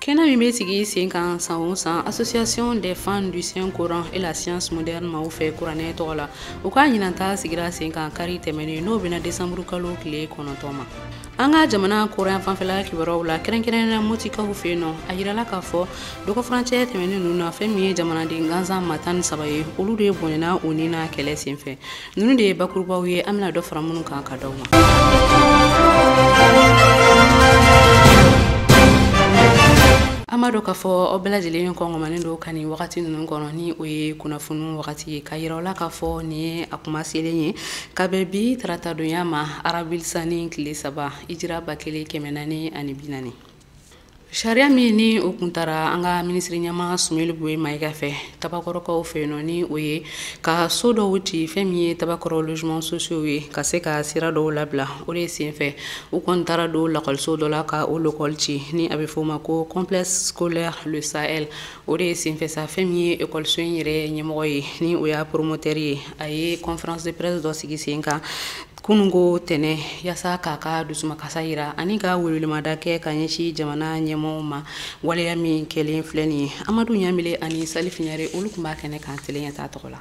Kɛnɛ min bɛ sigi sen kan san o san association des fans du saint coran et la science moderne maaw fɛ kuranɛ tɔgɔ la u ka ɲinanta sigira sen kan kari tɛmɛnen n'o bɛna desanburu kalo tile kɔnɔntɔn ma an ka jamana kɔrɔn fanfɛla kibaruyaw la kɛrɛnkɛrɛnnenya mɔtikaw fɛ yen nɔ a yirala k'a fɔ dɔgɔfurancɛ tɛmɛnen ninnu na fɛn min ye jamanaden gansan maa tan ni saba ye olu de bɔnɛna u ni na kɛlɛ senfɛ ninnu de ye bakurubaw ye an bɛna dɔ fara minnu kan ka d'aw ma an b'a dɔn k'a fɔ aw bɛɛ lajɛlen kɔngɔmanen don ka nin wagati ninnu kɔnɔ ni o ye kunnafoni wagati ye k'a yira aw la k'a fɔ nin ye a kuma selen ye ka bɛn bi taratadonya ma arabilisani tile saba ijira ba kelen kɛmɛ naani ani bi naani Sariya min ni o tun taara an ka minisiri ɲɛmaa sumeyili bube mayiga fɛ tabakɔrɔkaw fɛ yen nɔ ni o ye ka so dɔw ci fɛn min ye tabakɔrɔ logements sociaux ye ka se ka sira dɔw labila o de senfɛ u kɔni taara don lakɔliso dɔ la ka o lakɔli ci ni a bɛ f'o ma ko complexe scolaire sahɛl o de senfɛ sa fɛn min ye ekɔliso in yɛrɛ ɲɛmɔgɔ ye ni o y'a promoteur ye a ye conférence de presse dɔ sigi sen kan kununko tɛnɛn yasa k'a ka dusumakasa yira ani ka welemada kɛ ka ɲɛsin jamana ɲɛmɔgɔw ma waleya min kɛlen filɛ nin ye amadu ɲamile ani salifu ɲare olu tun b'a kɛnɛ kan tele ɲɛtaa tɔgɔ la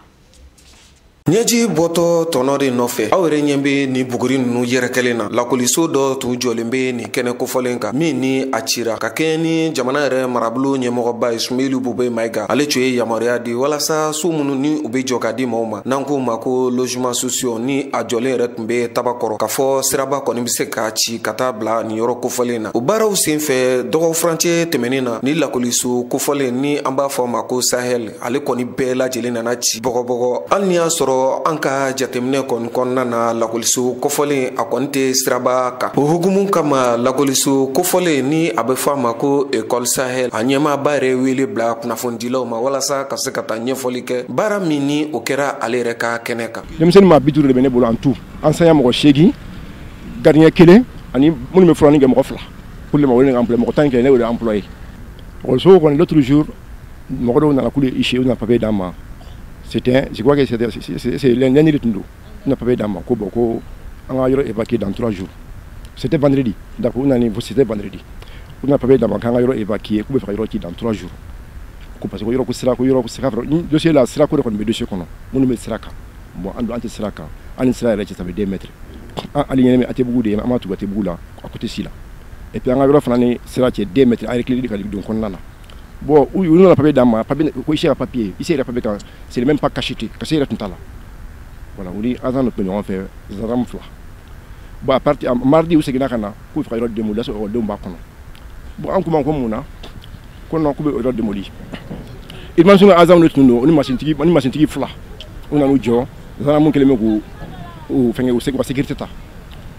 ɲɛji bɔtɔ tɔnɔ de nɔfɛ aw yɛrɛ ɲɛ be nin buguri nunu yɛrɛkɛlen na lakoliso dɔ tun jɔlen be nin kɛnɛ kofɔlen kan min ni a cira ka kɛɲɛ ni jamana yɛrɛ marabolo ɲɛmɔgɔba ye sumeyili bube mayiga ale tun ye yamaruya di walasa so minnu ni u be jɔ ka di maaw ma n'an k'o ma ko logements sociaux ni a jɔlen yɛrɛ tun be tabakɔrɔ k'a fɔ siraba kɔni be se ka ci ka taa bila nin yɔrɔ kofɔlen na o baaraw sen fɛ dɔgɔ furancɛ tɛmɛnin na ni lakoliso kofɔlen ni an b'a fɔ a ma ko sahɛl ale kɔni bɛɛ lajɛlen nana ci bɔgɔbɔgɔ hali ni y'a sɔrɔ an ka jateminɛ kɔni kɔnɔna na lakoliso kofɔlen a kɔni tɛ siraba kan o hukumu kama lakoliso kofɔlen ni a be fɔ a ma ko ekɔl sahɛl a ɲɛmaaba yɛrɛ wele bila kunnafonidilaw ma walasa ka se ka taa ɲɛfɔli kɛ baara min ni o kɛra ale yɛrɛ ka kɛnɛ kan denmisɛnnin maa bi duuru de bɛ ne bolo en tout enseignant mɔgɔ seegin garidiɲɛ kelen ani minnu bɛ furanni kɛ mɔgɔ fila pour le moment ne employé mɔgɔ tan kɛ ne y'o de employé ekɔliso kɔni l'autre jour mɔgɔ dɔw nana k'u ye huissier u nana papier d'an ma c'était je crois que c'était lundi de tun don u na papier d'an ma ko bon ko an ka yɔrɔ évacuer dans trois jours c'était vendredi d'accord u nana c'était vendredi u na papier d'an ma k'an ka yɔrɔ évacuer k'u bɛ fɛ ka yɔrɔ ci dans trois jours ko parce que yɔrɔ ko sira ko yɔrɔ ko sira ni dossier la sira ko de kɔni bɛ dossier kɔnɔ minnu bɛ sira kan bon an dun an tɛ sira kan an ni sira yɛrɛ cɛ ça fait deux mètres an alignement ATTbugu de ye an b'a tugu ATTbugu la a ko tɛ si la et puis an ka yɔrɔ fana ni sira cɛ deux mètres an reculé ka don kɔnɔna na bon u u nana papier d'an ma papier ko huissier ka papier huissier ka papier kan c'était même pas cacheté cachet yɛrɛ tun t'a la voilà u ni azan de tun bɛ ɲɔgɔn fɛ zandamu fila bon à partir mardi u seginna ka na k'u fɛ ka yɔrɔ demoli y'a sɔrɔ ekɔlidenw b'a kɔnɔ bon an k'u ma ko mun na ko non k'u bɛ yɔrɔ demoli urbanisme ka azan de tun don u ni masintigi fila u nan'u jɔ zandamu kelen bɛ k'u u fɛnkɛ u se u ka sécurité ta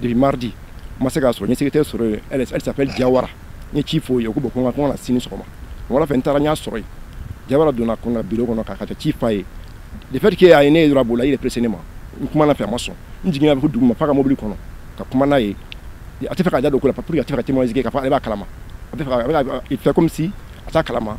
depuis mardi n ma se k'a sɔrɔ n ye secrétaire sɔrɔ yen elle s'appelle Diawara n ye ci f'o ye ko bon ko n ka ko n ka na sini sɔgɔmada fɛ n taara n y'a sɔrɔ yen Diawara donna ko n ka bureau kɔnɔ k'a ka ci f'a ye le fait que a ye ne ye dɔrɔn a bolila il est pressé ne ma n kuma na fɛ a ma sɔn n jiginna fo duguma f'a ka mobili kɔnɔ ka kuma n'a ye a tɛ fɛ k'a da don ko la pour que a tɛ fɛ ka témoignage kɛ k'a fɔ ale b'a kalama a bɛ fɛ ka il fait comme si a t'a kalama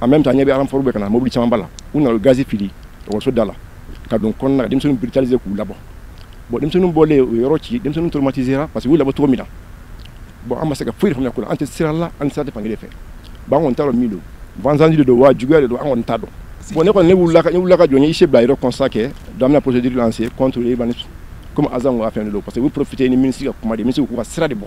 en même temps n ɲɛ b'a la renfort bɛ ka na mobili camanba la u nana gazi fili ekɔliso da la ka don kɔnɔna denmisɛnninw biritalize k'u labɔ bon denmisɛnninw bɔlen u yɔrɔ ci denmisɛnninw traumatisera parce que u labɔ cogo min na bon an ma se ka foyi faamuya ko la an tɛ sira la an sira tɛ fankelen fɛ bon an kɔni t'a dɔn min don vengeance de don wa juguya de don an kɔni t'a dɔn bon ne kɔni ne wulila ka ne wulila ka jɔ n ye huissier bila yɔrɔ constat kɛ donc an bɛna procédure lancer contre urbanisme comme azan ka fɛn de don parce que u bɛ profiter ni ministre ka kuma de ye ministre k'u ka sira de bɔ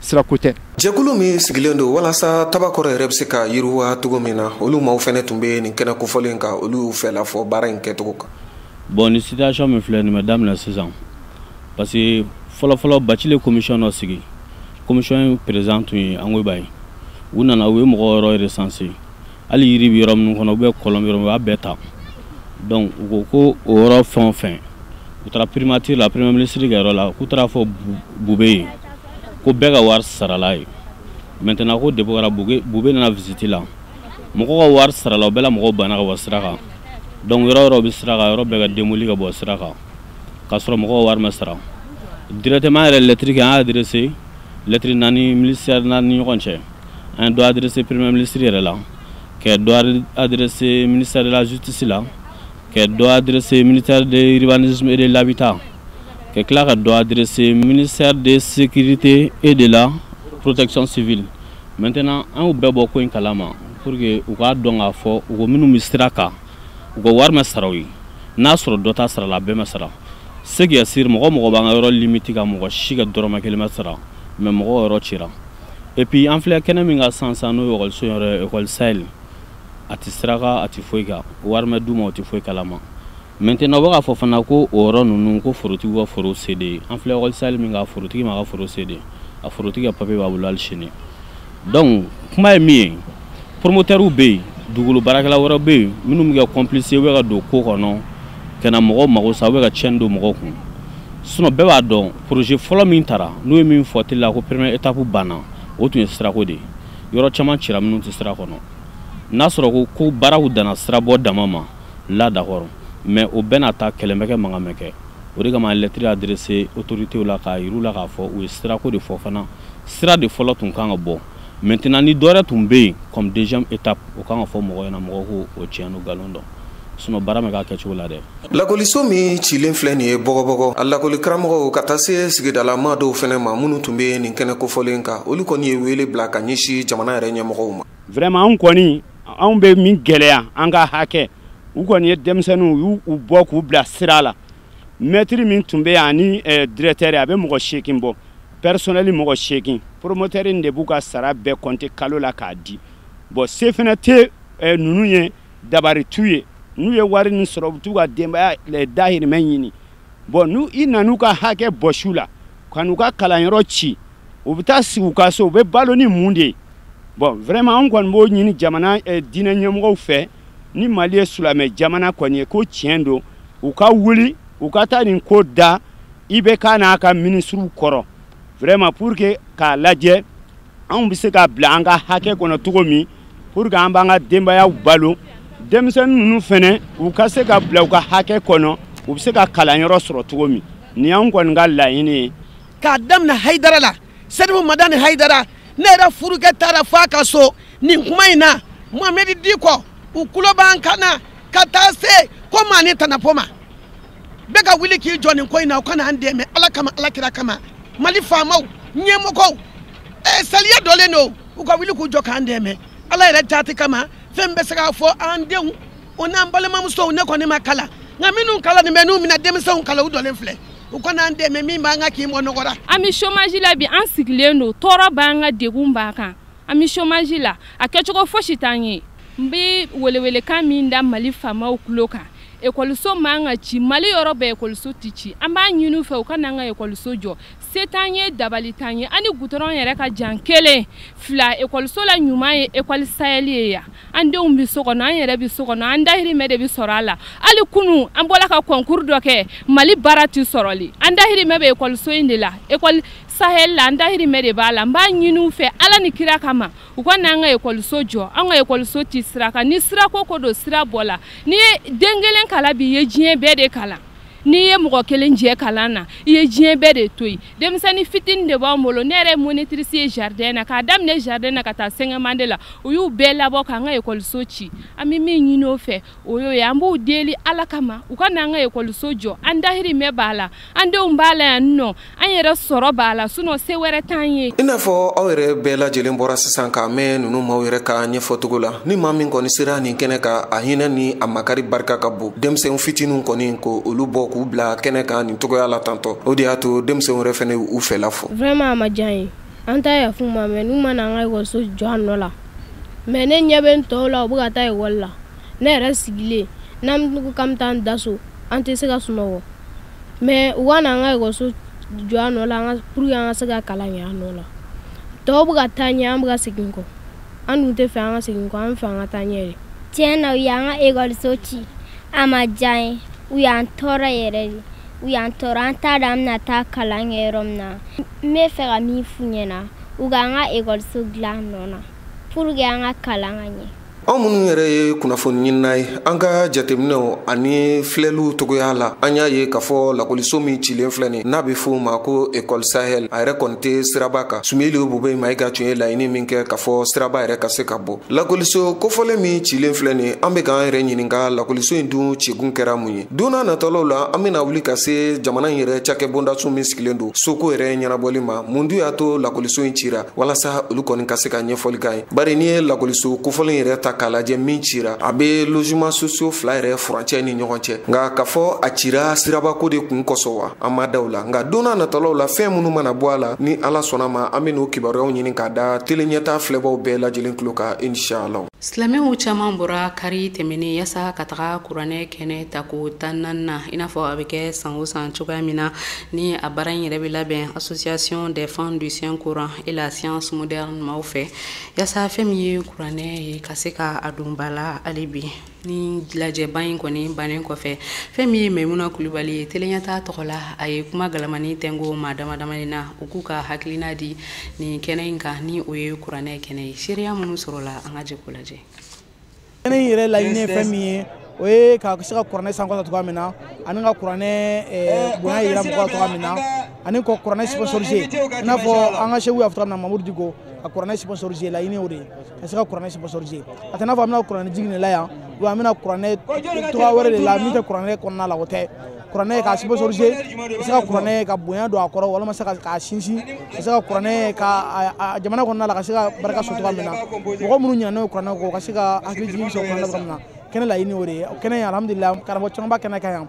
sirako tɛ jɛkulu min sigilen don walasa tabakɔrɔ yɛrɛ bɛ se ka yiriwa cogo min na olu maaw fɛnɛ tun bɛ nin kɛnɛ kofɔlen kan olu y'u fɛla fɔ baara in kɛcogo kan bon ni situation min filɛ nin ma daminɛ sisan parce que fɔlɔfɔlɔ Bathily ye commission dɔ sigi commission président tun ye angoyiba ye u nana u ye mɔgɔ yɔrɔ recensé hali yiri bɛ yɔrɔ minnu kɔnɔ u bɛ kɔlɔn yɔrɔ u y'a bɛɛ ta donc u ko ko o yɔrɔ fɛn o fɛn u taara primature la premier ministre ka yɔrɔ la k'u taara fɔ Boubèye ye ko bɛɛ ka wari sarala ye maintenant ko depo kɛra Boubèye nana visite la mɔgɔ ka wari sarala o bɛɛ la mɔgɔw banna ka bɔ sira kan donc yɔrɔ yɔrɔ bɛ sira kan yɔrɔ bɛɛ ka demoli ka bɔ sira kan k'a sɔrɔ mɔgɔw ka wari ma sara directement yɛrɛ lɛtiri kɛ an y'a adressé lɛtiri naani minisɛri naani ni ɲɔgɔn cɛ an ye dɔ adressé premier ministre yɛrɛ la ka dɔ adressé ministère de la justice la ka dɔ adressé ministère de l'urbanisme et de l'habitat ka tila ka dɔ adressé ministère de sécurité et de la protection civile maintenant an y'u bɛɛ bɔ ko in kalama pour que u k'a dɔn k'a fɔ u ko minnu bɛ sira kan u ka wari ma sara u ye n'a sɔrɔ dɔ ta sarala a bɛɛ ma sara ce qui est sûr mɔgɔ o mɔgɔ b'an ka yɔrɔ limiti kan mɔgɔ si ka dɔrɔmɛ kelen ma sara mais mɔgɔ yɔrɔ cira et puis an filɛ kɛnɛ min kan san san n'o ye ekɔliso yɔrɔ ekɔli sahel a tɛ sira kan a tɛ foyi kan o wari ma d'u ma o tɛ foyi kalama maintenant u bɛ k'a fɔ fana ko o yɔrɔ ninnu ko forotigiw ka foro céder ye an filɛ ekɔli sahel min kan a forotigi m'a ka foro céder a forotigi ka papiye b'a bolo hali sini donc kuma ye min ye poromotɛriw bɛ yen dugukolo baarakɛla wɛrɛ bɛ yen minnu bɛ kɛ complice u bɛ ka don ko kɔnɔ ka na mɔgɔw mago sa u bɛ ka tiɲɛni don mɔgɔw kun sinɔn bɛɛ b'a dɔn poroze fɔlɔ min tara n'u ye min fɔ tele la ko première étape banna o tun ye sirako de ye yɔrɔ caman cira minnu tɛ sira kɔnɔ n'a sɔrɔ ko baaraw danna sirabɔ dama ma la d'accord mais o bɛɛ n'a ta kɛlɛ ma kɛ mankan ma kɛ o de kama lɛtiri adirese otoritew la k'a yir'u la k'a fɔ u ye sirako de fɔ fana sira de fɔlɔ tun kan ka bɔ maintenant ni dɔwɛrɛ tun bɛ yen comme deuxième étape o kan ka fɔ mɔgɔ ɲɛna mɔgɔ k'o tiɲɛ n'o nkalon dɔn sinɔn baara ma k'a kɛcogo la dɛ lakɔliso min cilen filɛ nin ye bɔgɔbɔgɔ a lakɔli karamɔgɔw ka taa se sigidalamaa dɔw fɛnɛ ma minnu tun be nin kɛnɛ kofɔlen kan olu kɔni ye weele bila ka ɲɛsi jamana yɛrɛ ɲɛmɔgɔw ma vraiment anw kɔni anw be min gwɛlɛya an ka hakɛ u kɔni ye denmisɛnninw y'u bɔ k'u bila sira la mɛtiri min tun bɛ yan ani eh, dirɛtɛri a bɛ mɔgɔ seegin bɔ pɛrisɔnɛli mɔgɔ seegin poromotɛri in de b'u ka sara bɛɛ kɔnte kalo la k'a di bɔn se fana tɛ eh, ninnu ye dabari t'u ye n'u ye wari nin sɔrɔ u bɛ t'u ka denbaya eh, dahirimɛ ɲini bɔn n'i nan'u ka hakɛ bɔsi u la ka n'u ka kalanyɔrɔ ci u bɛ taa sigi u ka so u bɛ balo ni mun de ye bɔn vraiment an kɔni b'o ɲini jamana eh, diinɛ ɲɛmɔgɔw fɛ ni mali ye silamɛ jamana kɔni ye ko tiɲɛ don u ka wuli u ka taa nin ko da IBK n'a ka minisiriw kɔrɔ vraiment pour que k'a lajɛ anw bɛ se ka bila an ka hakɛ kɔnɔ cogo min pour que an b'an ka denbayaw balo denmisɛnnin ninnu fana u ka se ka bila u ka hakɛ kɔnɔ u bɛ se ka kalanyɔrɔ sɔrɔ cogo min nin y'anw kɔni ka laɲini ye k'a daminɛ hayidara la sɛrifu madani hayidara ne yɛrɛ furukɛ taara fo a ka so nin kuma in na mohamɛdi dikɔ u tulo b'an kan na ka taa se komani tanapo ma bɛɛ ka wuli k'i jɔ nin ko in na u ka na an dɛmɛ ala kama ala kira kama mali faamaw ɲɛmɔgɔw ɛ saliya dɔlen don u ka wuli k'u jɔ k'an dɛmɛ ala yɛrɛ jaati kama fɛn bɛ se k'a fɔ an denw o n'an balimamusow ne kɔni ma kalan nka minnu kalannen bɛ n'u bɛ na denmisɛnw kalan u dɔlen filɛ u ka na an dɛmɛ min b'an kan k'an bɔ nɔgɔ ra an bɛ chômage la bi an sigilen don tɔɔrɔ b'an kan degun b'an kan an bɛ chômage la a kɛcogo fosi t'an ye n bɛ welewelekan min da mali faamaw tulo kan ekɔliso man ka ci mali yɔrɔ bɛɛ ekɔliso tɛ ci an b'a ɲini u fɛ u ka n'an ka ekɔliso jɔ se t'an ye dabali t'an ye an ni gudɔrɔn yɛrɛ ka jan kelen fila ekɔliso la ɲuman ye ekɔli sahɛli ye yan an denw bɛ so kɔnɔ an yɛrɛ bɛ so kɔnɔ an dahirimɛ de bɛ sɔrɔ a la hali kunu an bɔra ka kɔnkuru dɔ kɛ mali baara tɛ sɔrɔli an dahirimɛ bɛ ekɔliso in de la ekɔli sahɛli la an dahirimɛ de b'a la n b'a ɲini u fɛ ala ni kira kama u ka n'an ka ekɔliso jɔ an ka ekɔliso tɛ sira kan ni sirako ko don sira bɔla n'i ye den kelen kalan bi i ye diɲɛ bɛɛ de kalan n'i ye mɔgɔ kelen jɛ kalan na i ye diɲɛ bɛɛ de to yen denmisɛnnin fitini de b'an bolo ne yɛrɛ ye monitrice ye jardin na k'a daminɛ jardin na ka taa cinquième année la u y'u bɛɛ labɔ k'an ka ekɔliso ci an bɛ min ɲini u fɛ o y'o ye an b'u deli ala kama u ka n'an ka ekɔliso jɔ an dahirimɛ b'a la an denw b'a la yan nɔ an yɛrɛ sɔrɔ b'a la sinon se wɛrɛ t'an ye i n'a fɔ aw yɛrɛ bɛɛ lajɛlen bɔra sisan k'a mɛn ninnu maaw yɛrɛ ka ɲɛfɔcogo la ni maa min kɔni sera nin kɛnɛ kan a hinɛ ni a makari barika ka bon denmisɛn fitiniw kɔni k'olu bɔ k'u bila kɛnɛ kan nin togoya la tantɔ o de y'a to denmisɛnw yɛrɛ fɛnɛ u fɛla fɔ vraiment a ma diya an ye an t'a yaf'u ma mɛ n'u ma na an ka ekɔliso jɔ a nɔ la mɛ ne ɲɛ bɛ n tɔw la u bɛ ka taa ekɔli la ne yɛrɛ sigilen n'an ko k'an bɛ taa an da so an tɛ se ka sunɔgɔ mɛ u ka na an ka ekɔliso jɔ a nɔ la pour que an ka se ka kalan kɛ a nɔ la tɔw bɛ ka taa ɲɛ an bɛ ka segin kɔ an dun tɛ fɛ an ka segin kɔ an fɛ an ka taa ɲɛ de tiɲɛ na u y'an ka ekɔliso ci a ma diya an ye u y'an tɔɔrɔ yɛrɛ de u y'an tɔɔrɔ an t'a dɔn an bɛna taa kalan kɛ yɔrɔ min na n bɛ fɛ ka min f'u ɲɛna u k'an ka ekɔliso dilan a nɔ na pour que an ka kalan ka ɲɛ anw minnu yɛrɛ ye kunnafoni ɲinina ye an ka jateminɛw ani filɛliw togoya la an y'a ye k'a fɔ lakɔliso min cilen filɛ nin n'a be fɔ o ma ko école sahel a yɛrɛ kɔni tɛ siraba kan sumeyilu bubɛyi mayiga tun ye laɲini min kɛ k'a fɔ siraba yɛrɛ ka se ka bɔ lakɔliso kofɔlen min cilen filɛ nin an be k'an yɛrɛ ɲininka lakɔliso in dun cikun kɛra mun ye donna natɔlaw la an bena wuli ka se jamana in yɛrɛ cakɛ bondaso min sigilen don soko yɛrɛ ɲɛnabɔli ma mun dun y'a to lakɔliso in cira walasa olu kɔni ka se ka ɲɛfɔli k'an ye bari n'i ye lakɔliso kofɔlen yɛrɛ ta k'a lajɛ min cira a be logements sociaux fila yɛrɛ furancɛ ni ɲɔgɔn cɛ nka k'a fɔ a cira sirabako de kun kosɔn wa an ma da o la nka donna natɔlaw la fɛn minnu mana bɔ a la ni ala sɔnn'a ma an ben'o kibaruyaw ɲini k'a da tele ɲɛta filɛbaw bɛɛ lajɛlen tulo kan inshallah silamɛw caman bɔra kari tɛmɛnen yasa ka taga kuranɛ kɛnɛ tako tannan na i n'a fɔ a be kɛ san o san cogoya min na ni a baara in yɛrɛ be labɛn association des femmes du saint coran et la science moderne maaw fɛ yasa fɛn min ye kuranɛ ye ka se ka a don ba la hali bi ni lajɛba in kɔni bannen kɔfɛ fɛn min ye maimuna kulubali ye tele ɲɛta tɔgɔ la a ye kuma galamanin tɛngo maa damadamanin na u k'u ka hakilina di nin kɛnɛ in kan ni o ye kuranɛ kɛnɛ ye seereya minnu sɔrɔla an ka jɛ k'o lajɛ in yɛrɛ laɲini ye fɛn min ye o ye ka se ka kuranɛ sankɔrɔta cogoya min na ani ka kuranɛ eh, bonya yira mɔgɔw cogoya min na ani ka kuranɛ sponsoriser i n'a fɔ an ka seku y'a fɔ cogoya min na mamudu diko ka kuranɛ sponsoriser laɲini o de ye ka se ka kuranɛ sponsoriser a tɛ n'a fɔ an bɛna kuranɛ jigin de la yan wa an bɛna kuranɛ cogoya wɛrɛ de la min tɛ kuranɛ kɔnɔna la o tɛ kuranɛ ka sponsoriser ka se ka kuranɛ ka bonya don a kɔrɔ walima se k'a sinsin ka se ka kuranɛ ka jamana kɔnɔna la ka se ka barika sɔrɔ cogoya min na mɔgɔ minnu ɲinana n'o kuranɛ kɔ ka se ka hakili jigin sɔrɔ kuranɛ cogoya min na kɛnɛ laɲini o de ye kɛnɛ ye alhamdulilayi karamɔgɔ caman bɛ kɛnɛ kan yan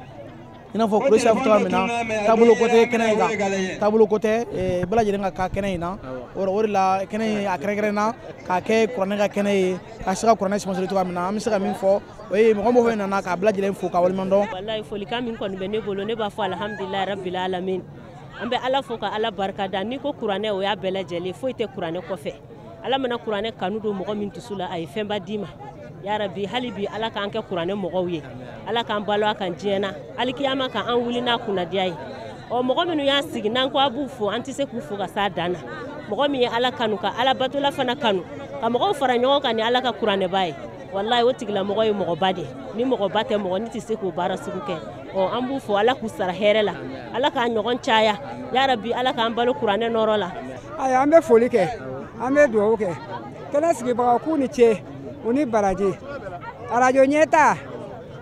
i n'a fɔ kuresi y'a fɔ cogoya min na taabolo ko tɛ kɛnɛ in kan taabolo ko tɛ bɛɛ lajɛlen ka kan kɛnɛ in na o de la kɛnɛ in a kɛrɛnkɛrɛnna k'a kɛ kuranɛ ka kɛnɛ ye ka se ka kuranɛ sponsoriser cogoya min na an bɛ se ka min fɔ o ye mɔgɔ mɔgɔ nana k'a bɛɛ lajɛlen fo ka waleɲuman dɔn walayi folikan min kɔni bɛ ne bolo ne b'a fɔ alhamdulilayi rabbil alamin an bɛ ala fo ka ala barika da n'i ko kuranɛ o y'a bɛɛ lajɛlen foyi tɛ kuranɛ kɔfɛ ala mana kuranɛ kanu don mɔgɔ min dusu la a ye fɛnba d'i ma yarabi hali bi ala k'an kɛ kuranɛ mɔgɔw ye ala k'an balo a kan diɲɛ na alikiyama ka an wuli n'a kunnandiya ye ɔ mɔgɔ minnu y'a sigi n'an ko an b'u fo an tɛ se k'u fo ka s'a dan na mɔgɔ min ye ala kanu ka ala batola fana kanu ka mɔgɔw fara ɲɔgɔn kan ni ala ka kuranɛba ye walayi o tigilamɔgɔ ye mɔgɔba de ni mɔgɔba tɛ mɔgɔnin tɛ se k'o baara sugu kɛ ɔ an b'u fo ala k'u sara hɛrɛ la ala k'a ɲɔgɔn caya yarabi ala k'an balo kuranɛ nɔrɔ la ayiwa an bɛ foli kɛ an bɛ dugawu kɛ kɛnɛ sigibagaw k'u ni ce u ni baraji arajo ɲɛta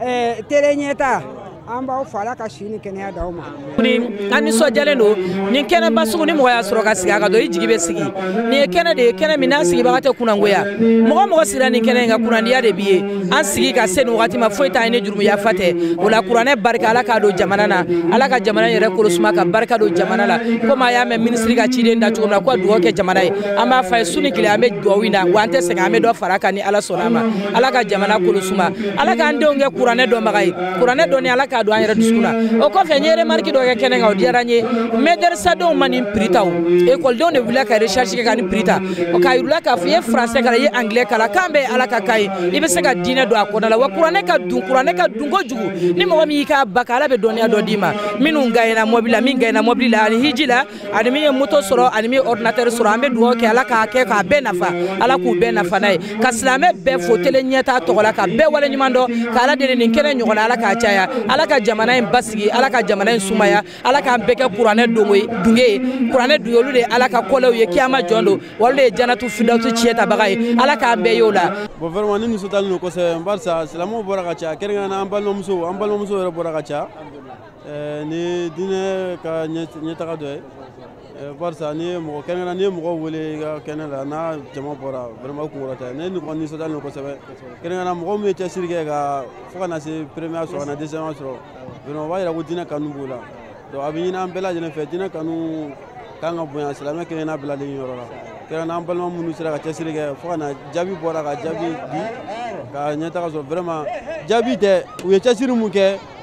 ɛɛ tele ɲɛta an b'aw fo ala ka si ni kɛnɛya d'aw ma an nisɔndiyalen don nin kɛnɛba sugu ni mɔgɔ y'a sɔrɔ ka sigi a ka dɔn i jigi bɛ sigi nin ye kɛnɛ de ye kɛnɛ min n'a sigibaga tɛ kunnangoya mɔgɔ o mɔgɔ sigira nin kɛnɛ in kan kunnandiya de b'i ye an sigi ka se nin wagati ma foyi t'an ye ni jurumu yafa tɛ o la kuranɛ barika ala k'a don jamana na ala ka jamana yɛrɛ kolosuma ka barika don jamana la komi a y'a mɛn minisiri ka ciden da cogo min na ko ka dugawu kɛ jamana ye an b'a fɔ a ye su ni tile an bɛ dugawu in na wa an tɛ sɛgɛn an bɛ dɔ fara a kan ni ala sɔnna a ma ala ka jamana kolosuma ala k'an denw kɛ kuranɛ dɔnbaga ye kuranɛ dɔnni ala k'a don an yɛrɛ dusukun na o kɔfɛ n ye remarque dɔ kɛ kɛnɛ kan o diyara n ye mɛdɛrisadenw ma nin prix ta o ekɔlidenw de wulila ka recherche kɛ ka nin prix ta k'a yir'u la k'a fɔ i ye français kalan i ye anglais kalan kan bɛɛ ye ala ka kan ye i bɛ se ka diinɛ don a kɔnɔna la wa kuranɛ ka dun kuranɛ ka dun kojugu ni mɔgɔ min y'i k'a ba ka ala bɛ dɔnniya dɔ d'i ma minnu gaɲɛna mɔbili la min gaɲɛna mɔbili la ani hiji la ani min ye moto sɔrɔ ani min ye ordinateur sɔrɔ an bɛ dugawu kɛ ala k'a kɛ k'a bɛɛ nafa ala k'u bɛɛ nafa n'a ye ka silamɛ bɛɛ fo tele ɲɛta tɔgɔ la ka bɛɛ wale ɲuman dɔn ka ala deli nin kɛnɛ ɲɔgɔn na ala k'a caya ala ka jamana in basigi ala ka jamana in sumaya ala k'an bɛɛ kɛ kuranɛ dunge ye kuranɛ dunge olu de ye ala ka kɔlɛw ye kiyama jɔ don wa olu de ye janatu firidawusu ciyɛn tabaga ye ala k'an bɛɛ y'o la bon vraiment ne nisɔndiyalen don kosɛbɛ barisa silamɛw bɔra ka caya kɛrɛnkɛrɛnna an balimamusow an balimamusow yɛrɛ bɔra ka caya eh, nin diinɛ ka ɲɛtaga dɔ ye eh, barisa n'i ye mɔgɔ kɛnɛ na n'i ye mɔgɔ wele i ka kɛnɛ la n'a jama bɔra vraiment kunkɔrɔta de ne nisɔndiyalen don kosɛbɛ kɛrɛnkɛrɛnna mɔgɔ min ye cɛsiri kɛ ka fo ka na se première sɔrɔ ka na deuxième sɔrɔ vraiment o b'a yira ko diinɛ kanu b'u la donc a bɛ ɲini an bɛɛ lajɛlen fɛ diinɛ kanu ka kan ka bonya silamɛ kelen-kelenna bɛɛ lajɛlen yɔrɔ la kɛrɛnkɛrɛnna an balima minnu sera ka cɛsiri kɛ fo ka na jaabi bɔra ka jaabi di ka ɲɛtaga sɔrɔ vraiment jaabi tɛ u ye cɛsiri min kɛ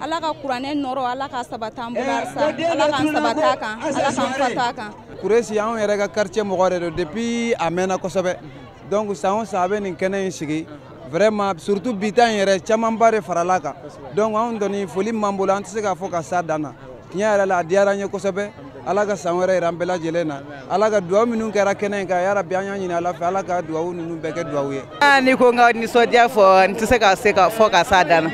ala ka kuranɛ nɔrɔ ala k'a sabati an bolo halisa ala k'an sabati a kan ala k'an fatu a kan kuresi anw yɛrɛ ka quartier mɔgɔ de don depuis a mɛnna kosɛbɛ donc san o san a bɛ nin kɛnɛ in sigi vraiment surtout bi ta in yɛrɛ camanba de farala a kan donc anw kɔni foli min b'an bolo an tɛ se k'a fɔ ka s'a dan na tiɲɛ yɛrɛ la a diyara an ye kosɛbɛ ala ka san wɛrɛ yira an bɛɛ lajɛlen na ala ka duwawu minnu kɛra kɛnɛ in kan yarabi an y'a ɲini ala fɛ ala ka duwawu ninnu bɛɛ kɛ duwawu ye ni n ko n ka nisɔndiya fɔ n tɛ se ka se k'a fɔ ka s'a dan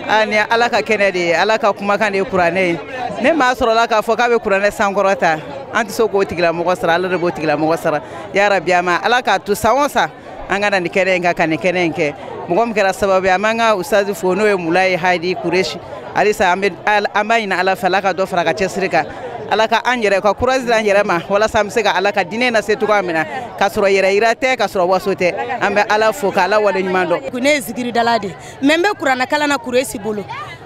na nin y'ala ka kɛnɛ de ye ala ka kumakan de ye kuranɛ ye ni maa sɔrɔla k'a fɔ k'a bɛ kuranɛ sankɔrɔta an tɛ se k'o tigilamɔgɔ sara ala de b'o tigilamɔgɔ sara yarabi an ma ala k'a to san o san an ka na nin kɛnɛ in kan ka nin kɛnɛ in kɛ mɔgɔ min kɛra sababu ye an b'an ka usazi fo n'o ye mulayi hadi kuresi halisa an b'a ɲini ala fɛ ala ka dɔ fara a ka cɛsiri kan ala ka an yɛrɛ ka courage d'an yɛrɛ ma walasa an bɛ se ka ala ka diinɛ lase cogoya min na k'a sɔrɔ yɛrɛyira tɛ k'a sɔrɔ waso tɛ an bɛ ala fo ka ala wale ɲuman dɔn ne ye zikiridala de ye mais n bɛ kuranɛ kalan na kuresi bolo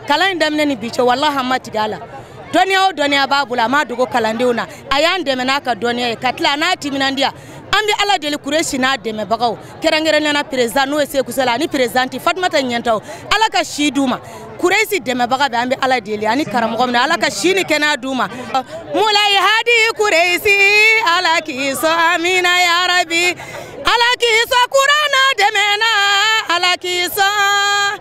kalan in daminɛ ni bi cɛ walahi an ma tigɛ a la dɔnniya o dɔnniya b'a bolo a m'a dogo kalandenw na a y'an dɛmɛ n'a ka dɔnniya ye ka tila a n'a timinandiya an bɛ ala deli kuresi n'a dɛmɛbagaw kɛrɛnkɛrɛnnenya président n'o ye seku sila ani présidente fatumata ɲɛntaw ala ka si d'u ma kuresi dɛmɛbaga bɛɛ an bɛ ala deli ani karamɔgɔ min ala ka si ni kɛnɛya d'u ma mulayi hadi kuresi ala k'i sɔn amina yarabi ala k'i sɔn kuranɛ dɛmɛ na ala k'i sɔn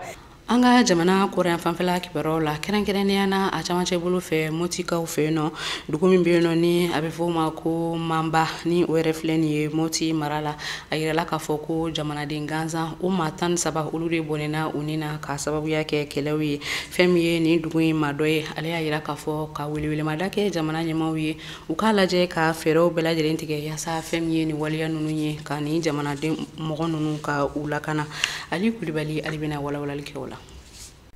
an ka jamana kɔrɔnyanfan fɛla kibaruyaw la kɛrɛnkɛrɛnnenya na a camancɛ bolo fɛ motikaw fɛ yen nɔ dugu min bɛ yen nɔ ni a bɛ fɔ o ma ko manba ni o yɛrɛ filɛ nin ye moti mara la a yirala k'a fɔ ko jamanaden gansanw maa tan ni saba olu de bɔnɛna u ni na k'a sababuya kɛ kɛlɛw ye fɛn min ye nin dugu in maa dɔ ye ale y'a yira k'a fɔ ka welewelemada kɛ jamana ɲɛmaaw ye u k'a lajɛ ka fɛɛrɛw bɛɛ lajɛlen tigɛ yasa fɛn min ye nin waleya ninnu ye ka nin jamanaden mɔgɔ ninnu ka u lakana ali kulibali ali bɛna walawalali kɛ o la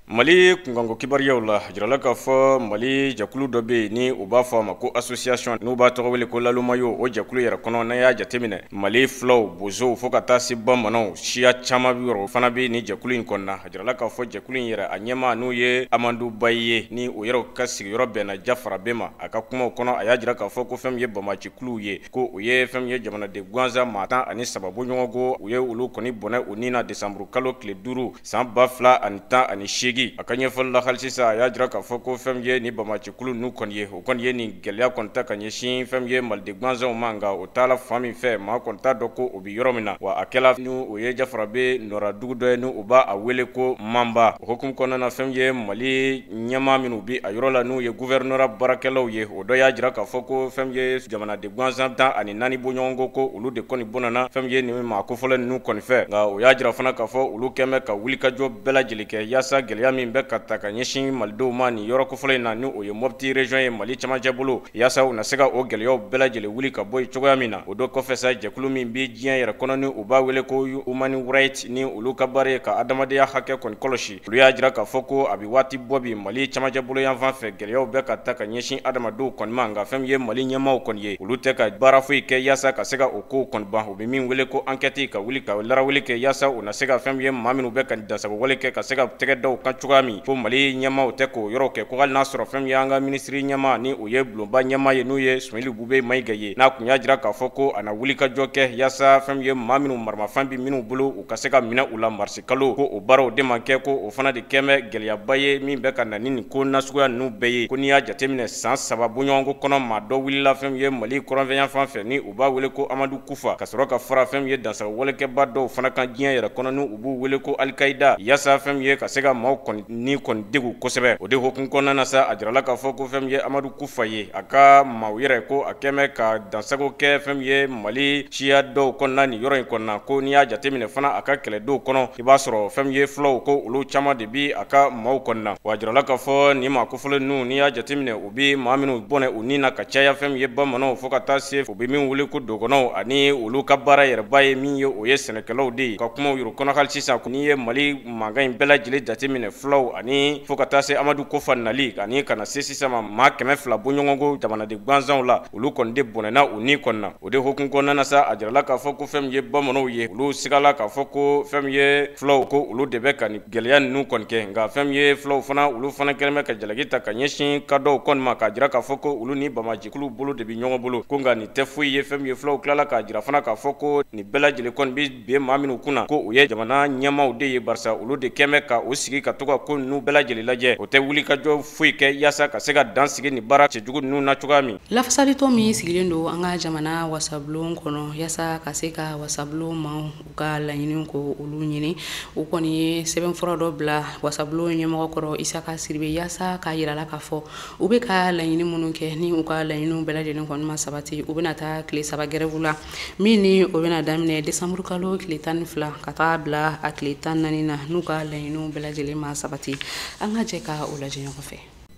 mali kunkanko kibaruyaw la a jirala k'a fɔ mali jɛkulu dɔ bɛ yen ni u b'a fɔ a ma ko association n'u b'a tɔgɔ wele ko lalumayo o jɛkulu yɛrɛ kɔnɔ n'a y'a jateminɛ mali fulaw bozow fɔɔ ka taa se bamananw siya caman niyɔrɔ fana bɛ nin jɛkulu in kɔnɔna a jirala k'a fɔ jɛkulu in yɛrɛ a ɲɛmaa n'o ye amadu bayi ye ni u yɛrɛw ka sigiyɔrɔ bɛnna jafarabe ma a ka kumaw kɔnɔ a y'a jira k'a fɔ ko fɛn min ye banbaanci kuluw ye ko u ye fɛn min ye jamanaden gansan maa tan ani saba bɔɲɔgɔnko u ye olu kɔni bɔnɛ u ni na desanburu kalo tile duuru san ba fila ani tan ani seegin a ka ɲɛfɔli la hali sisan a y'a jira k'a fɔ ko fɛn min ye nin banbaanci kulu ninnu kɔni ye u kɔni ye nin gɛlɛya kɔni ta ka ɲɛsin fɛn min ye maliden gansanw ma nka o t'a la fan min fɛ maa kɔni t'a dɔn ko o bi yɔrɔ min na wa a kɛla ni o ye jafarabe nɔra dugu dɔ ye ni u b'a wele ko manba o hokumu kɔnɔna na fɛn min ye mali ɲɛmaa minnu bi a yɔrɔ la n'u ye guvɛrinɔra baarakɛlaw ye o dɔ y'a jira k'a fɔ ko fɛn min ye jamanaden gansan tan ani naani bɔɲɔgɔnko ko olu de kɔni bɔnɛna fɛn min ye nin maa kofɔlen ninnu kɔni fɛ nka o y'a jira fana k'a fɔ olu kɛmɛ ka wulikajɔ bɛɛ lajɛlen kɛ yaasa gɛlɛya min bɛ ka ta ka ɲɛsin malidenw ma nin yɔrɔ kofɔlen in na ni o ye mɔpiti rejɔn ye mali camancɛ bolo Yaasa u na se ka o gɛlɛyaw bɛɛ lajɛlen wuli ka bɔ yen cogoya min na o don kɔfɛ sa jɛkulu min bɛ diɲɛ yɛrɛ kɔnɔ ni u b'a wele ko Human Rights ni olu ka baara ye ka adamadenya hakɛ kɔni kɔlɔsi olu y'a jira k'a fɔ ko a bɛ waati bɔ bi Mali cɛmancɛ bolo yanfan fɛ gɛlɛyaw bɛ ka ta ka ɲɛsin adamadenw kɔni ma nka fɛn min ye Mali ɲɛmaaw kɔni ye olu tɛ ka baara foyi kɛ yaasa ka se ka o kow kɔni ban u bɛ min wele ko ankɛti ka wuli ka larawuli kɛ yaasa u na se ka fɛn min ye maa minnu bɛ ka dansagowale kɛ ka se ka tɛgɛ da u kan cogoya min ko mali ɲɛmaaw tɛ k'o yɔrɔ kɛ ko hali n'a sɔrɔ fɛn min ye an ka minisiri ɲɛmaa ni o ye bulonba ɲɛmaa ye n'o ye sumɛyilu bubɛ mayiga ye n'a kun y'a jira k'a fɔ ko a na wulikajɔ kɛ yaasa fɛn min ye maa minnu maramafɛn bɛ minnu bolo u ka se ka minɛ u la marisi kalo ko o baaraw de ma kɛ ko o fana de kɛmɛ gɛlɛyaba ye min bɛ ka na ni nin ko nasuguya ninnu bɛɛ ye ko n'i y'a jateminɛ san saba bɔɲɔgɔnko kɔnɔ maa dɔ wulila fɛn min ye mali kɔrɔnfɛ yanfan fɛ ni u b'a wele ko amadu kufa ka sɔrɔ ka fara fɛn min ye dansagowalekɛbaa dɔw fana kan diɲɛ yɛrɛ kɔnɔ ni u b'u wele ko alikayida yaasa fɛn min ye ka se ka maaw kɔni ni kɔni degun kosɛbɛ o de hokumu kɔnɔna na sa a jirala k'a fɔ ko fɛn min ye amadu kufa ye a ka maaw yɛrɛ ko a kɛmɛ ka dansago kɛ fɛn min ye mali siya dɔw kɔnɔna nin yɔrɔ in kɔnɔna ko n'i y'a jateminɛ fana a ka kɛlɛdenw kɔnɔ i b'a sɔrɔ fɛn min ye fulaw ko olu caman de bi a ka maaw kɔnɔna wa a jirala k'a fɔ nin maa kofɔlen ninnu n'i y'a jateminɛ u bi maa minnu bɔnɛ u ni na ka caya fɛn min ye bamananw fo ka taa se u bɛ min wele ko dogɔnɔw ani olu ka baara yɛrɛba ye min ye o ye sɛnɛkɛlaw de ye ka kumaw yuru kɔnɔ hali sisan n'i ye mali mankan in bɛɛ lajɛlen jateminɛ fulaw ani fo ka taa se amadu kufa nali ani ka na se sisan ma maa kɛmɛ fila bɔɲɔgɔnko jamanaden gansanw la olu kɔni de bɔnɛna u ni kɔni na o de hokumu kɔnɔna na sa a jirala k'a fɔ ko fɛn min ye bamananw ye olu sigala k'a fɔ ko fɛn min ye fulaw ko olu de bɛ ka nin gwɛlɛya ninnu kɔni kɛ nka fɛn min ye fulaw fana olu fana kɛlen bɛ ka jalaki ta ka ɲɛsin kadɔw kɔni ma k'a jira k'a fɔ ko olu ni bamajɛkulu bolo de bɛ ɲɔgɔn bolo ko nka nin tɛ foyi ye fɛn min ye fulaw tilala k'a jira fana k'a fɔ ko nin bɛɛ lajɛlen kɔni bɛ bin maa minnu kunna ko o ye jamana ɲɛmaaw de ye barisa olu de kɛmɛ ka u sigi ka to ka ko ninnu bɛɛ lajɛlen lajɛ u tɛ wulikajɔ foyi kɛ yaasa ka se ka dan sigi nin baara cɛjugu ninnu na cogoya min lafasalitɔn min sigilen don an ka jamana wasabulon kɔnɔ yaasa ka se ka wasabulon maaw u ka laɲiniw ko olu ɲini u kɔni ye sɛbɛnfura dɔ bila wasabulon ɲɛmɔgɔ kɔrɔ isaka sidibe yaasa k'a yir'a la k'a fɔ u bɛ ka laɲini minnu kɛ ni u ka laɲiniw bɛɛ lajɛlen kɔni ma sabati u bɛna taa tile saba gɛrɛvu la min ni o bɛna daminɛ desanburu kalo tile tan ni fila ka taa bila a tile tan naani na n'u ka laɲiniw bɛɛ lajɛlen ma sabati an ka jɛ ka o lajɛ ɲɔgɔn fɛ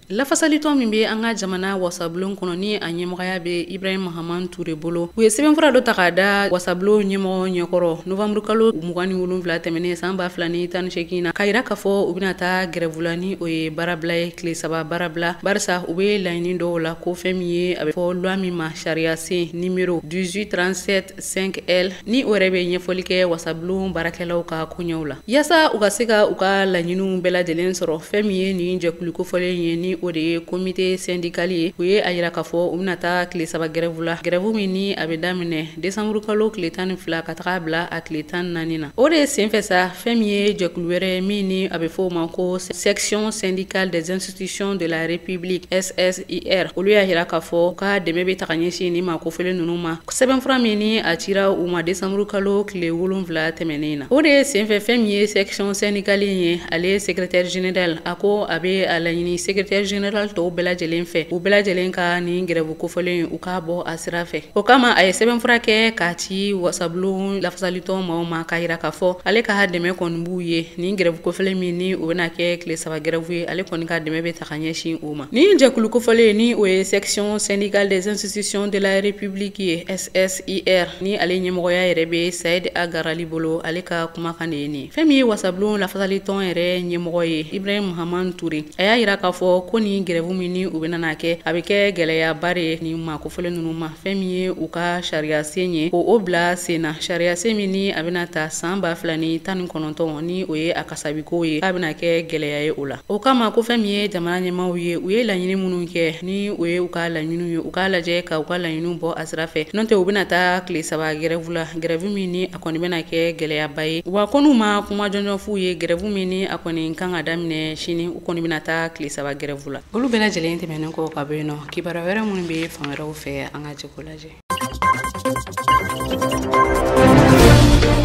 lafasalitɔn min bɛ an ka jamana wasabulon kɔnɔ ni a ɲɛmɔgɔya bɛ ibrahim mahaman ture bolo u ye sɛbɛnfura dɔ ta k'a da wasabulon ɲɛmɔgɔ ɲɛkɔrɔ novanburu kalo mugan ni wolonwula tɛmɛnen san ba fila ni tan ni seegin na k'a yira k'a fɔ u bɛna taa gɛrɛvu la ni o ye baarabila ye tile saba baarabila barisa u bɛ laɲini dɔw la ko fɛn min ye a bɛ fɔ lwa min ma sariyasen nimero 1837 5L ni o yɛrɛ bɛ ɲɛfɔli kɛ wasabulon baarakɛlaw ka koɲɛw la yaasa u ka se ka u ka laɲiniw bɛɛ lajɛlen sɔrɔ fɛn min ye nin jɛkulu kofɔlen ye ni o de ye komite sɛndikali ye u ye a yira k'a fɔ u bɛna taa tile saba gɛrɛvu la gɛrɛvu min ni a bɛ daminɛ desanburu kalo tile tan ni fila ka taga bila a tile tan ni naani na o de ye senfɛ sa fɛn min ye jɛkulu wɛrɛ min ni a bɛ fɔ o ma ko section syndicale des institutions de la république ss IR olu y'a yira k'a fɔ u ka dɛmɛ bɛ taga ɲɛsin nin maa kofɔlen ninnu ma sɛbɛnfura min ni a cira u ma desanburu kalo tile wolonwula tɛmɛnen na o de ye senfɛ fɛn min ye section sɛndikali in ye ale ye secrétaire général a ko a bɛ a laɲini secrétaire général tɔw bɛɛ lajɛlen fɛ u bɛɛ lajɛlen ka nin gɛrɛvu kofɔlen u k'a bɔ a sira fɛ o kama a ye sɛbɛnfura kɛ k'a ci wasabulon lafasalitɔn maaw ma k'a yira k'a fɔ ale ka dɛmɛ kɔni b'u ye nin gɛrɛvu kofɔlen min ni o bɛna kɛ tile saba gɛrɛvu ye ale kɔni ka dɛmɛ bɛ ta ka ɲɛsin o ma nin jɛkulu kofɔlen ni o ye section syndicale des institutions de la république ye ssir ni ale ɲɛmɔgɔya yɛrɛ bɛ said agarali bolo ale ka kumakan de ye nin fɛn min ye wasabulon lafasalitɔn yɛrɛ ɲɛmɔgɔ ye ibrahim mahaman ture a y'a yira k'a fɔ ko nin gɛrɛvu min ni u bɛna n'a kɛ a bɛ kɛ gwɛlɛyaba de ye nin maa kofɔlen ninnu ma fɛn min ye u ka sariyasen ye ko o bila sen na sariyasen min ni a bɛna ta san ba fila ni tan ni kɔnɔntɔn ni o ye a ka sabiko ye k'a bɛna kɛ gɛlɛya ye o la o kama ko fɛn min ye jamana ɲɛmaaw ye u ye laɲini minnu kɛ ni o ye u ka laɲiniw ye u k'a lajɛ ka u ka laɲiniw bɔ a sira fɛ n'o tɛ u bɛna taa tile saba gɛrɛvu la gɛrɛvu min ni a kɔni bɛna kɛ gɛlɛyaba ye wa ko n'u ma kuma jɔnjɔn f'u ye gɛrɛvu min ni a kɔni kan ka daminɛ sini u kɔni bɛna taa tile saba gɛrɛvu la olu bɛɛ lajɛlen tɛmɛnen kɔ ka bɔ yen nɔ kibaruya wɛrɛ minnu bɛ fan wɛrɛw fɛ an ka jɛ k'o lajɛ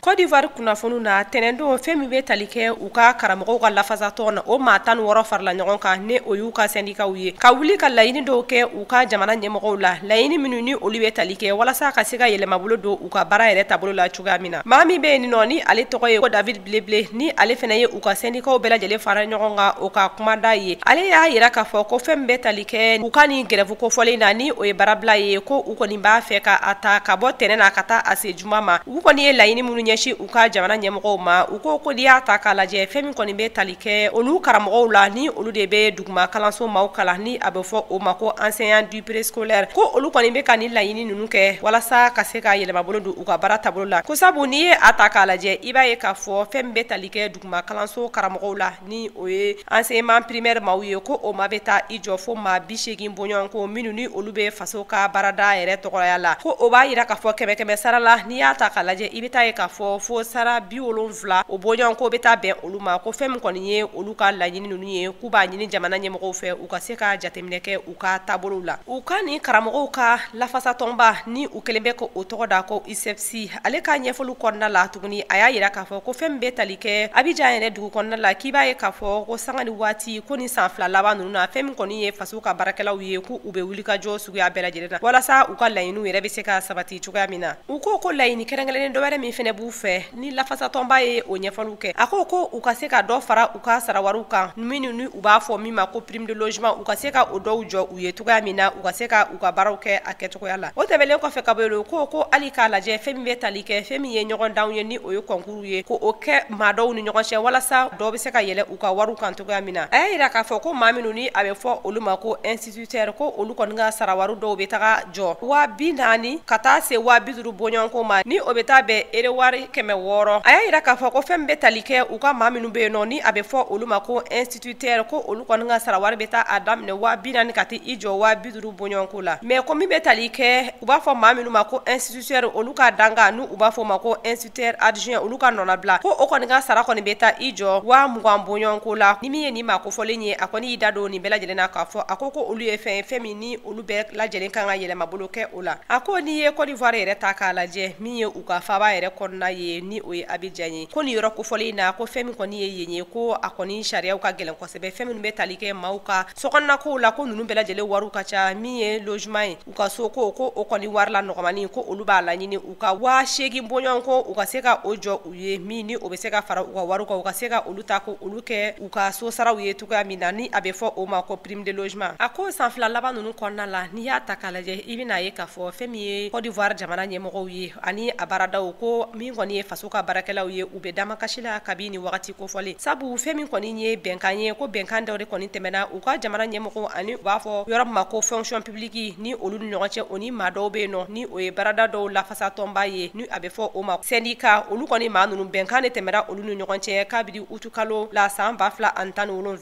Côte d'Ivoire kunnafoniw na tɛnɛndon fɛn min bɛ tali kɛ u ka karamɔgɔw ka lafasatɔn na o maa tan ni wɔɔrɔ farala ɲɔgɔn kan ni o y'u ka sɛndikaw ye ka wuli ka laɲini dɔw kɛ u ka jamana ɲɛmɔgɔw la laɲini minnu ni olu bɛ tali kɛ walasa ka se ka yɛlɛmabolo don u ka baara yɛrɛ taabolo la cogoya min na maa min bɛ yen nɔ ni ale tɔgɔ ye ko David Bli Blé ni ale fana ye u ka sɛndikaw bɛɛ lajɛlen fara ɲɔgɔn kan o ka kumada ye ale y'a yira k'a fɔ ko fɛn min bɛ tali kɛ u ka nin gɛrɛfu kofɔlen na ni o ye baarabila ye ko u kɔni b'a fɛ ka a ta ka bɔ tɛnɛn na ka taa a se juma ma u kɔni ye laɲini minnu ɲɛsin u ka jamana ɲɛmɔgɔw ma u ko ko n'i y'a ta k'a lajɛ fɛn min kɔni bɛ tali kɛ olu karamɔgɔw la ni olu de bɛ duguma kalanso maaw kalan ni a bɛ fɔ o ma ko enseignant du préscolaire ko olu kɔni bɛ ka nin laɲini ninnu kɛ walasa ka se ka yɛlɛmabolo don u ka baara taabolo la ko sabu n'i ye a ta k'a lajɛ i b'a ye k'a fɔ fɛn min bɛ tali kɛ duguma kalanso karamɔgɔw la ni o ye enseignement primaire maaw ye ko o ma bɛ taa i jɔ fo maa bi seegin bɔɲɔgɔn ko minnu ni olu bɛ faso ka baarada yɛrɛ tɔgɔya la ko o b'a yira k'a fɔ kɛmɛ kɛmɛ sara la n'i y'a ta k'a lajɛ i bɛ taa ye k'a fɔ fo sara bi wolonwula o bɔɲɔgɔn ko bɛ taa bɛn olu ma ko fɛn min kɔni ye olu ka laɲini ninnu ye k'u b'a ɲini jamana ɲɛmɔgɔw fɛ u ka se ka jateminɛ kɛ u ka taabolow la u ka nin karamɔgɔw ka lafasatɔnba ni u kelen bɛ ka o tɔgɔ da ko ISEPPCI ale ka ɲɛfɔli kɔnɔna la tuguni a y'a yira k'a fɔ ko fɛn min bɛ tali kɛ Abidjan yɛrɛ dugu kɔnɔna la k'i b'a ye k'a fɔ ko sanga ni waati ko ni san fila laban ninnu na fɛn min kɔni ye faso ka baarakɛlaw ye ko u bɛ wulikajɔ suguya bɛɛ lajɛlen na walasa u ka laɲiniw yɛrɛ bɛ se ka sabati cogoya min na u ko ko laɲini kɛrɛnkɛrɛnnen dɔ wɛrɛ min fɛnɛ b'u fɛ ni lafasatɔnba ye o ɲɛfɔliw kɛ a ko ko u ka se ka dɔ fara u ka sarawariw kan minnu ni u b'a fɔ min ma ko prime de logement u ka se ka o dɔw jɔ u ye cogoya min na u ka se ka u ka baaraw kɛ a kɛcogoya la o tɛmɛlen kɔfɛ ka bɔ yen nɔ ko ko hali k'a lajɛ fɛn min bɛ tali kɛ fɛn min ye ɲɔgɔndanw ye ni o ye kɔnkuruw ye ko o kɛ maa dɔw ni ɲɔgɔn cɛ walasa dɔ bɛ se ka yɛlɛ u ka wariw kan cogoya min na a y'a yira k'a fɔ ko maa minnu ni a bɛ fɔ olu ma ko instituteur ko olu kɔni ka sarawari dɔw bɛ taga jɔ waa bi naani ka taa se waa bi duuru bɔɲɔgɔnko ma ni o bɛ taa bɛn euro wari kɛmɛ wɔɔrɔ a y'a yira k'a fɔ ko fɛn min bɛ tali kɛ u ka maa minnu bɛ yen nɔ ni a bɛ fɔ olu ma ko instituteur ko olu kɔni ka sarawari bɛ taa a daminɛ waa bi naani ka taa i jɔ waa bi duuru bɔɲɔgɔnko la mais ko min bɛ tali kɛ u b'a fɔ maa minnu ma ko instituteur olu ka dankan ni u b'a fɔ o ma ko instituteur adjoint olu ka nɔnabila ko o kɔni ka sara kɔni bɛ taa i jɔ waa mugan bɔɲɔgɔnko la ni min ye nin maa kofɔlen ye a kɔni y'i da don nin bɛɛ lajɛlen na k'a fɔ a ko ko olu ye fɛn ye fɛn min ni olu bɛɛ lajɛlen kan ka yɛlɛmabolo kɛ o la a ko n'i ye Côte d'Ivoire yɛrɛ ta k'a lajɛ min ye u ka faaba yɛrɛ kɔnɔna ye ni o ye Abidjan ye ko nin yɔrɔ kofɔlen in na ko fɛn min kɔni ye yen ye ko a kɔni sariyaw ka gɛlɛn kosɛbɛ fɛn minnu bɛ tali kɛ maaw ka sokɔnɔna kow la ko ninnu bɛɛ lajɛlen wariw ka ca min ye logement ye u ka soko ko o kɔni wari la nɔgɔmani ko olu b'a laɲini u ka waa seegin bɔɲɔgɔn ko u ka se ka o jɔ u ye min ni o bɛ se ka fara u ka wariw kan u ka se ka olu ta ko olu kɛ u ka so saraw ye cogoya min na ni a bɛ fɔ o ma ko prime de logement a ko san fila laban ninnu kɔnɔna la n'i y'a ta k'a lajɛ i bɛna a ye k'a fɔ fɛn min ye Côte d'Ivoire jamana ɲɛmɔgɔw ye ani a baaradaw ko min kɔni ye faso ka baarakɛlaw ye u bɛ damakasi la kabi nin wagati kofɔlen sabu fɛn min kɔni ye bɛnkan ye ko bɛnkan dɔw de kɔni tɛmɛna u ka jamana ɲɛmɔgɔw ani u b'a fɔ yɔrɔ min ma ko fonction publique ni olu ni ɲɔgɔn cɛ o ni maa dɔw bɛ yen nɔ ni o ye baarada dɔw lafasatɔnba ye ni a bɛ fɔ o ma sɛndika olu kɔni maa ninnu bɛnkan de tɛmɛna olu ni ɲɔgɔn cɛ kabiri utukalo la san ba fila ani tan ni wolonwula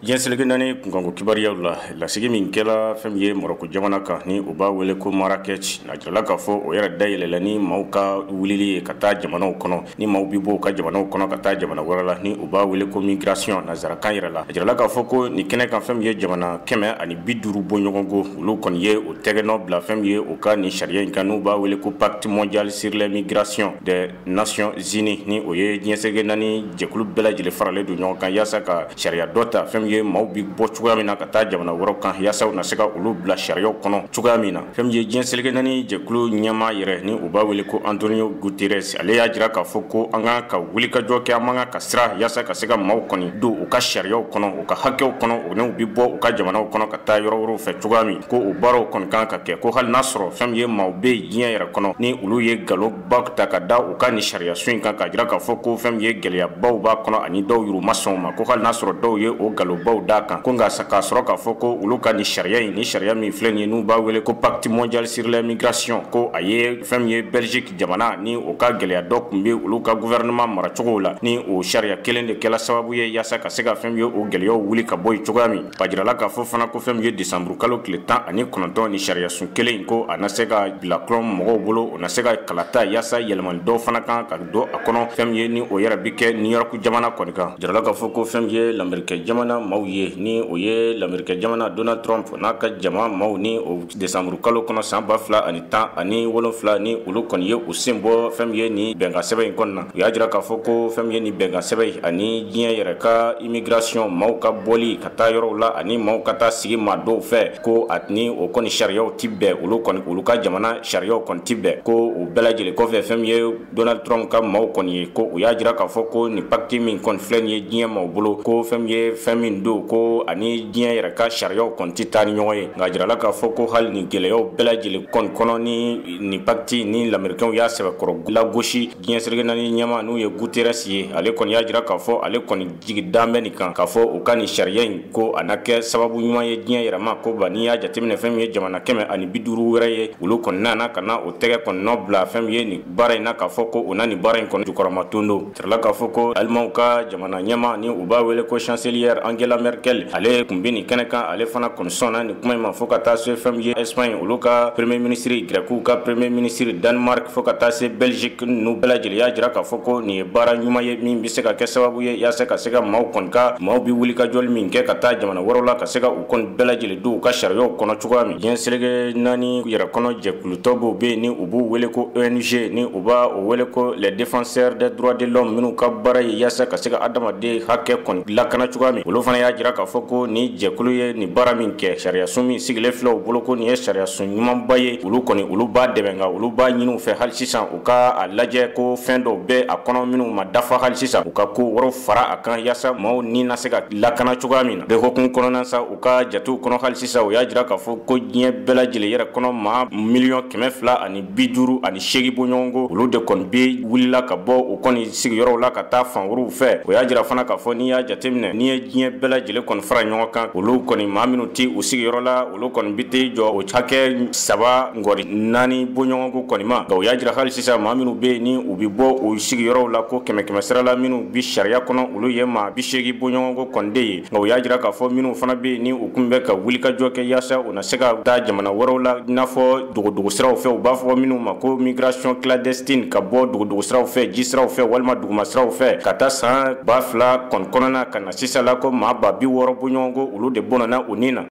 diɲɛ seleke naani kunkanko kibaruyaw la lasigi min kɛla fɛn min ye Marɔku jamana kan ni u b'a wele ko Marrakech a jirala k'a fɔ o yɛrɛ dayɛlɛla ni maaw ka wulili ye ka taa jamanaw kɔnɔ ni maaw bɛ bɔ u ka jamanaw kɔnɔ ka taa jamana wɛrɛ la ni u b'a wele ko migration nanzarakan yɛrɛ la a jirala k'a fɔ ko nin kɛnɛ kan fɛn min ye jamana kɛmɛ ani bi duuru bɔɲɔgɔnko olu kɔni ye o tɛgɛnɔ bila fɛn min ye u ka nin sariya in kan n'u b'a wele ko pacte mondial sur les migrations des nations unies ni o ye diɲɛ seleke naani jɛkulu bɛɛ lajɛlen faralen don ɲɔgɔn kan yaasa ka sariya dɔ ta fɛn min ye maaw bɛ bɔ cogoya min na ka taa jamana wɛrɛw kan yaasa u na se ka olu bila sariyaw kɔnɔ cogoya min na fɛn min ye diɲɛ seleke naani jɛkulu ɲɛmaa yɛrɛ ni u b'a wele ko antonio guterres ale y'a jira k'a fɔ ko an ka kan ka wulikajɔ kɛ an man kan ka siran yaasa ka se ka maaw kɔni don u ka sariyaw kɔnɔ u ka hakɛw kɔnɔ o n'u bɛ bɔ u ka jamanaw kɔnɔ ka taa yɔrɔ wɛrɛw fɛ cogoya min ko o baaraw kɔni kan ka kɛ ko hali n'a sɔrɔ fɛn min ye maaw bɛ diɲɛ yɛrɛ kɔnɔ ni olu ye nkalon baw ta ka da u ka nin sariyasun in kan k'a jira k'a fɔ ko fɛn min ye gɛlɛyabaw b'a kɔnɔ ani dɔw yɛrɛ ma sɔn u ma ko hali n'a sɔrɔ dɔw ye o nkalonbaw d'a kan ko nka k'a sɔrɔ k'a fɔ ko olu ka nin sariya in ni sariya min filɛ nin ye n'u b'a wele ko pacte mondial sur les migrations ko a ye fɛn min ye belgique jamana ni o ka gɛlɛya dɔ tun bɛ olu ka gouvernement maracogow la ni o sariya kelen de kɛla sababu ye yaasa ka se ka fɛn min ye o gɛlɛyaw wuli ka bɔ yen cogoya min a jirala k'a fɔ fana ko fɛn min ye desanburu kalo tile tan ani kɔnɔntɔn ni sariyasun kelen in ko a na se ka bila kɔlɔn mɔgɔw bolo u na se ka kalata yaasa yɛlɛmani dɔw fana kan ka don a kɔnɔ fɛn min ye ni o yɛrɛ bi kɛ new york jamana kɔni kan a jirala k'a fɔ ko fɛn min ye lamerikɛ jamana maaw ye ni o ye lamerikɛ jamana donald trump n'a ka jama maaw ni o desanburu kalo kɔnɔ san ba fila ani tan ani wolonfila ni olu kɔni ye u sen bɔ fɛn min ye ni bɛnkan sɛbɛn in kɔni na u y'a jira k'a fɔ ko fɛn min ye ni bɛnkan sɛbɛn in ani diɲɛ yɛrɛ ka immigration maaw ka bɔli ka taa yɔrɔw la ani maaw ka taa sigi maa dɔw fɛ ko a ni o kɔni sariyaw tɛ bɛn olu kɔni olu ka jamana sariyaw kɔni tɛ bɛn ko o bɛɛ lajɛlen kɔfɛ fɛn ye donald trump ka maaw kɔni ye ko u y'a jira k'a fɔ ko nin pacte min kɔni filɛ nin ye diɲɛ maaw bolo ko fɛn ye fɛn min don ko a ni diɲɛ yɛrɛ ka sariyaw kɔni tɛ taa ni ɲɔgɔn ye nka a jirala k'a fɔ ko hali nin gɛlɛyaw bɛɛ lajɛlen kɔni kɔnɔ ni nin pacte ni lamerikɛnw y'a sɛbɛkɔrɔ lagosi diɲɛ seleke naani ɲɛmaa n'o ye guterres ye ale kɔni y'a jira k'a fɔ ale kɔni jigi dalen bɛ nin kan k'a fɔ u ka nin sariya in ko a na kɛ sababu ɲuman ye diɲɛ yɛrɛ ma ko ba n'i y'a jateminɛ fɛn min ye jamana kɛmɛ ani bi duuru wɛrɛ ye olu kɔni nana ka na u tɛgɛ kɔni nɔ bila fɛn min ye nin baara in na k'a fɔ ko u na nin baara in kɔni jukɔrɔmadondon a jirala k'a fɔ ko alimanw ka jamana ɲɛmaa ni u b'a wele ko chancelière angela merkel ale tun bɛ nin kɛnɛ kan ale fana kɔni sɔnna nin kuma in ma fo ka taa se fɛn min ye espagne olu ka premier minisiri grɛkiw ka premier minisiri danemark fo ka taa se belgique n'u bɛɛ lajɛlen y'a jira k'a fɔ ko nin ye baara ɲuman ye min se ka kɛ sababu ye yaasa ka se ka maaw kɔni ka maaw bɛ wulikajɔli min kɛ ka taa jamana wɛrɛw la ka se ka u kɔni bɛɛ lajɛlen don u ka sariyaw kɔnɔ cogoya min diɲɛ seleke naani yɛrɛ kɔnɔ jɛkulu dɔw b'o bɛ yen ni u b'u wele ko ONG ni u b'a o wele ko les défenseurs des droits de l'homme minnu ka baara ye yaasa ka se ka adamaden hakɛ kɔni lakana cogoya min olu fana y'a jira k'a fɔ ko ni jɛkulu ye nin baara min kɛ sariyasun min sigilen filɛ u bolo ko nin ye sariyasun ɲumanba ye olu kɔni olu b'a dɛmɛ nka olu b'a ɲini u fɛ hali sisan U ka a lajɛ ko fɛn dɔw bɛ a kɔnɔ minnu ma dafa hali sisan u ka ko wɛrɛw fara a kan yaasa maaw ni na se ka lakana cogoya min na bɛɛ hukumu kɔnɔna sa u ka jatew kɔnɔ hali sisan u y'a jira k'a fɔ ko diɲɛ bɛɛ lajɛlen yɛrɛ kɔnɔ maa miliyɔn kɛmɛ fila ani bi duuru ani seegin bɔɲɔgɔnko olu de kɔni bɛ wulila ka bɔ u kɔni sigiyɔrɔw la ka taa fan wɛrɛw fɛ o y'a jira fana k'a fɔ n'i y'a jateminɛ n'i ye diɲɛ bɛɛ lajɛlen kɔni fara ɲɔgɔn kan olu kɔni maa minnu tɛ u sigiyɔrɔ la olu kɔni bɛ t'i jɔ o hakɛ saba Nkɔri naani bɔɲɔgɔnko kɔni ma nka u y'a jira hali sisan maa minnu bɛ yen ni u bɛ bɔ u sigiyɔrɔw la ko kɛmɛ kɛmɛ sira la minnu bi sariya kɔnɔ olu ye maa bi seegin bɔɲɔgɔnko kɔni de ye nka u y'a jira k'a fɔ minnu fana bɛ yen ni u kun bɛ ka wulikajɔ kɛ yaasa u na se ka taa jamana wɛrɛw la i n'a fɔ dogodogo siraw fɛ u b'a fɔ minnu ma ko migration clandestine ka bɔ dogodogo siraw fɛ ji siraw fɛ walima duguma siraw fɛ ka taa san ba fila kɔni kɔnɔna ka na sisan la ko maa ba bi wɔɔrɔ bɔɲɔgɔnko olu de bɔnɛna u ni na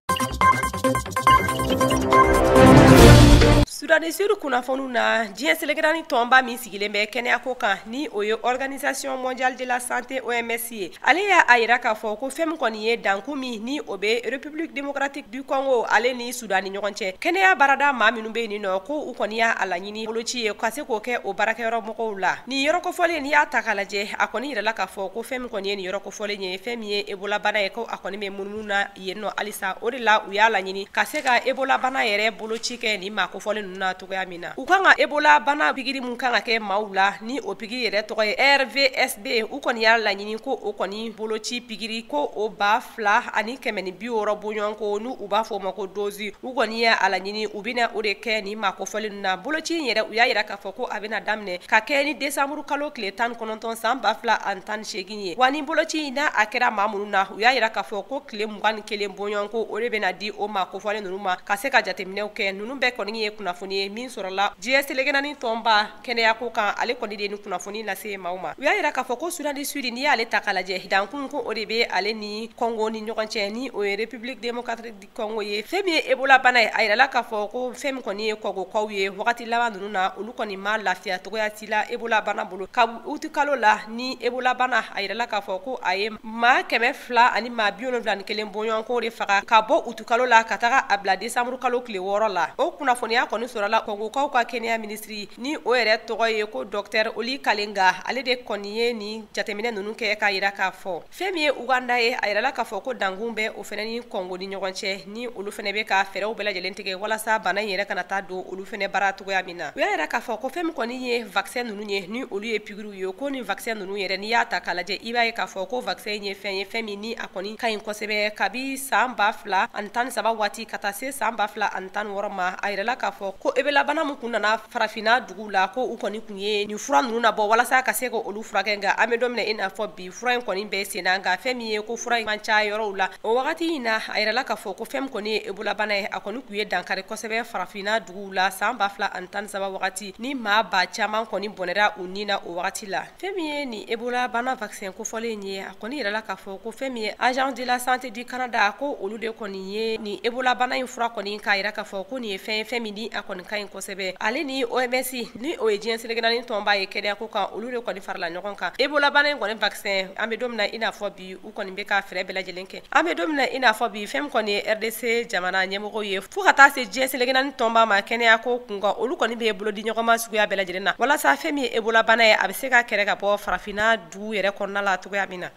sudan di sudi kunnafoniw na diɲɛ seleke naani tɔnba min sigilen bɛ kɛnɛyako kan ni o ye organisation mondiale de la santé oms ye ale y'a yira k'a fɔ ko fɛn min kɔni ye dankun min ni o bɛ république démocratique du congo ale ni sudan ni ɲɔgɔn cɛ kɛnɛya baarada maa minnu bɛ yen nɔ ko u kɔni y'a laɲini boloci ye ka se k'o kɛ o baarakɛyɔrɔ mɔgɔw la nin yɔrɔ kofɔlen n'i y'a ta k'a lajɛ a kɔni yirala k'a fɔ ko fɛn min kɔni ye nin yɔrɔ kofɔlen ye fɛn min ye ebola bana ye ko a kɔni bɛ munumunu na yen nɔ halisa o de la u y'a laɲini ka se ka ebola bana yɛrɛ boloci kɛ nin maa kofɔlen ninnu na cogoya min na u kan ka ebola bana pigiri min kan ka kɛ maaw la ni o pigiri yɛrɛ tɔgɔ ye rvsb u kɔni y'a laɲini ko o kɔni boloci pigiri ko o ba fila ani kɛmɛ ni bi wɔɔrɔ bɔɲɔgɔnko ni u b'a fɔ o ma ko dozi u kɔni y'a laɲini u bɛna o de kɛ nin maa kofɔlen ninnu na boloci in yɛrɛ u y'a yira k'a fɔ ko a bɛna daminɛ ka kɛ ni desanburu kalo tile tan ni kɔnɔntɔn san ba fila ani tan ni seegin ye wa ni boloci n'a kɛra maa minnu na u y'a yira k'a fɔ ko tile mugan ni kelen bɔɲɔgɔnko o de bɛna di o maa kofɔlen ninnu ma ka se ka jateminɛw kɛ ninnu bɛɛ kɔni ye kunnafoni ye min sɔrɔla diɲɛ seleke naani tɔnba kɛnɛyako kan ale kɔni de ni kunnafoni lase maaw ma u y'a yira k'a fɔ ko sudan di sudi n'i y'ale ta k'a lajɛ dankun ko o de bɛ ale ni kɔngo ni ɲɔgɔn cɛ ni o ye république démocratique kɔngo ye fɛn min ye ebola bana ye a yirala k'a fɔ ko fɛn min kɔni ye kɔngokaw ye wagati laban ninnu na olu kɔni ma lafiya cogoya si la ebola bana bolo ka uti kalo la ni ebola bana a yirala k'a fɔ ko a ye maa kɛmɛ fila ani maa bi wolonwula ni kelen bɔɲɔgɔnko de faga ka bɔ utu kalo la ka taga a bila desanburu kalo tile wɔɔrɔ la o kunnafoniya kɔni sɔrɔla kɔngokaw ka kɛnɛya minisiri ni o yɛrɛ tɔgɔ ye ko dɔktɛr oli kalenga ale de kɔni ye nin jateminɛ ninnu kɛ k'a yira k'a fɔ fɛn min ye uganda ye a yirala k'a fɔ ko dankun bɛ o fɛnɛ ni kɔngo ni ɲɔgɔn cɛ ni olu fɛnɛ bɛ ka fɛɛrɛw bɛɛ lajɛlen tigɛ walasa bana in yɛrɛ kana taa don olu fɛnɛ baara cogoya min na u y'a yira k'a fɔ ko fɛn min kɔni ye vaccin ninnu ye ni olu ye pikiriw ye ko nin vaccin ninnu yɛrɛ n'i y'a ta k'a lajɛ i b'a ye k'a fɔ ko vaccin in ye fɛn ye fɛn min ni a kɔni ka ɲi kosɛbɛ kabi saan ba fila ani tan ni saba waati ka taa se saan ba fila ani tan ni wɔɔrɔ ma a yirala k'a fɔ ko ebolabana min kun nana farafina duguw la ko u kɔni kun ye nin fura ninnu nabɔ walasa ka se ka olu furakɛ nka an bɛ don min na i n'a fɔ bi fura in kɔni bɛ sen na nka fɛn min ye ko fura in man ca yɔrɔw la o wagati in na a yirala k'a fɔ ko fɛn min kɔni ye ebolabana ye a kɔni kun ye dankari kosɛbɛ farafinna duguw la saan ba fila ani tan ni saba wagati ni maa ba caman kɔni bɔnɛra u ni na o wagati la fɛn min ye nin ebolabana vaccin kofɔlen ye a kɔni yirala k'a fɔ ko fɛn min ye agence de la santé du canada ko olu de kɔni ye nin ebolabana in fura kɔni k'a yira k'a fɔ ko nin ye fɛn ye fɛn min ni a kɔni ka ɲi kosɛbɛ ale ni OMS ni o ye diɲɛ seleke naani tɔnba ye kɛnɛya ko kan olu de kɔni farala ɲɔgɔn kan Ebola bana in kɔni vaccin an bɛ don min na i n'a fɔ bi u kɔni bɛ ka fɛɛrɛ bɛɛ lajɛlen kɛ an bɛ don min na i n'a fɔ bi fɛn min kɔni ye RDC jamana ɲɛmɔgɔw ye fo ka taa se diɲɛ seleke naani tɔnba ma kɛnɛya ko kun kan olu kɔni bɛ bolo di ɲɔgɔn ma suguya bɛɛ lajɛlen na walasa fɛn min ye Ebola bana ye a bɛ se ka kɛrɛ ka bɔ farafinna dugu yɛrɛ kɔnɔna la cogoya min na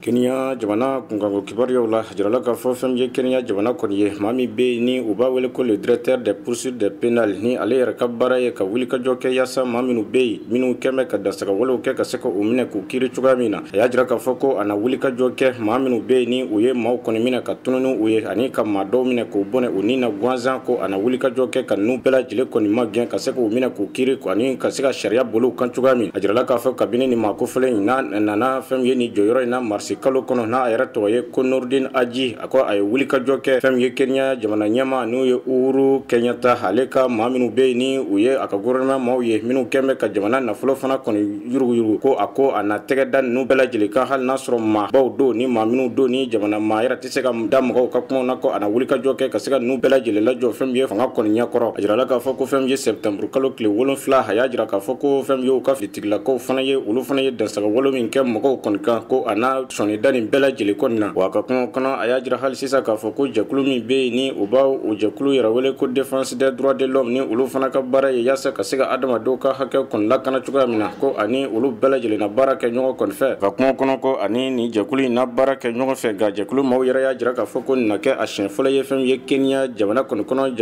kenya jamana kunkanko kibaruyaw la jirala k'a fɔ fɛn min ye kenya jamana kɔni ye maa min bɛ yen ni u b'a wele ko le directeur des poursuites des pénales ni ale yɛrɛ ka baara ye ka wulikajɔ kɛ yaasa maa minnu bɛ yen minnu kɛn bɛ ka dansagawalew kɛ ka se ka u minɛ k'u kiiri cogoya min na a y'a jira k'a fɔ ko a na wulikajɔ kɛ maa minnu bɛ yen ni u ye maaw kɔni minɛ ka tunun ni u ye ani ka maa dɔw minɛ k'u bɔnɛ u ni na gansan ko a na wulikajɔ kɛ ka ninnu bɛɛ lajɛlen kɔni magɛn ka se k'u minɛ k'u kiri ani ka se ka sariya boli u kan cogoya min a jirala k'a fɔ kabini nin maa kofɔlen in n'a nana fɛn min ye nin jɔyɔrɔ in na marisi kalo kɔnɔ n'a yɛrɛ tɔgɔ ye ko noordin haji a ko a ye wulikajɔ kɛ fɛn min ye kenya jamana ɲɛmaa n'o ye uhuru kenyatta ale ka maa minnu bɛ yen ni u ye a ka gouvernement maaw ye minnu kɛn bɛ ka jamana nafolo fana kɔni yurugu-yurugu ko a ko a na tɛgɛ da ninnu bɛɛ lajɛlen kan hali n'a sɔrɔ maabaw don ni maa minnu don ni jamana maa yɛrɛ tɛ se ka da mɔgɔw ka kumaw na ko a na wulikajɔ kɛ ka se ka ninnu bɛɛ lajɛlen lajɔ fɛn min ye fanga kɔni ɲɛ kɔrɔ a jirala k'a fɔ ko fɛn min ye septembre kalo tile wolonfila a y'a jira k'a fɔ ko fɛn min ye u ka finitigilakaw fana ye olu fana ye dansagawale min kɛ mɔgɔw kɔni kan ko a na sɔnni da nin bɛɛ lajɛlen kɔni na wa a ka kumaw kɔnɔ a y'a jira hali Sisan k'a fɔ ko jɛkulu min bɛ yen ni u b'a o jɛkulu yɛrɛ wele ko défense des droits de l'homme ni olu fana ka baara ye yaasa ka se ka adamadenw ka hakɛ kɔni lakana cogoya min na, ko a ni olu bɛɛ lajɛlen na baara kɛ ɲɔgɔn kɔni fɛ. Ka kuma kɔnɔ ko a ni nin jɛkulu in na baara kɛ ɲɔgɔn fɛ, nka jɛkulu maaw yɛrɛ y'a jira k'a fɔ ko nin na kɛ a siɲɛ fɔlɔ ye fɛn min ye Kenya jamana kɔni kɔnɔ,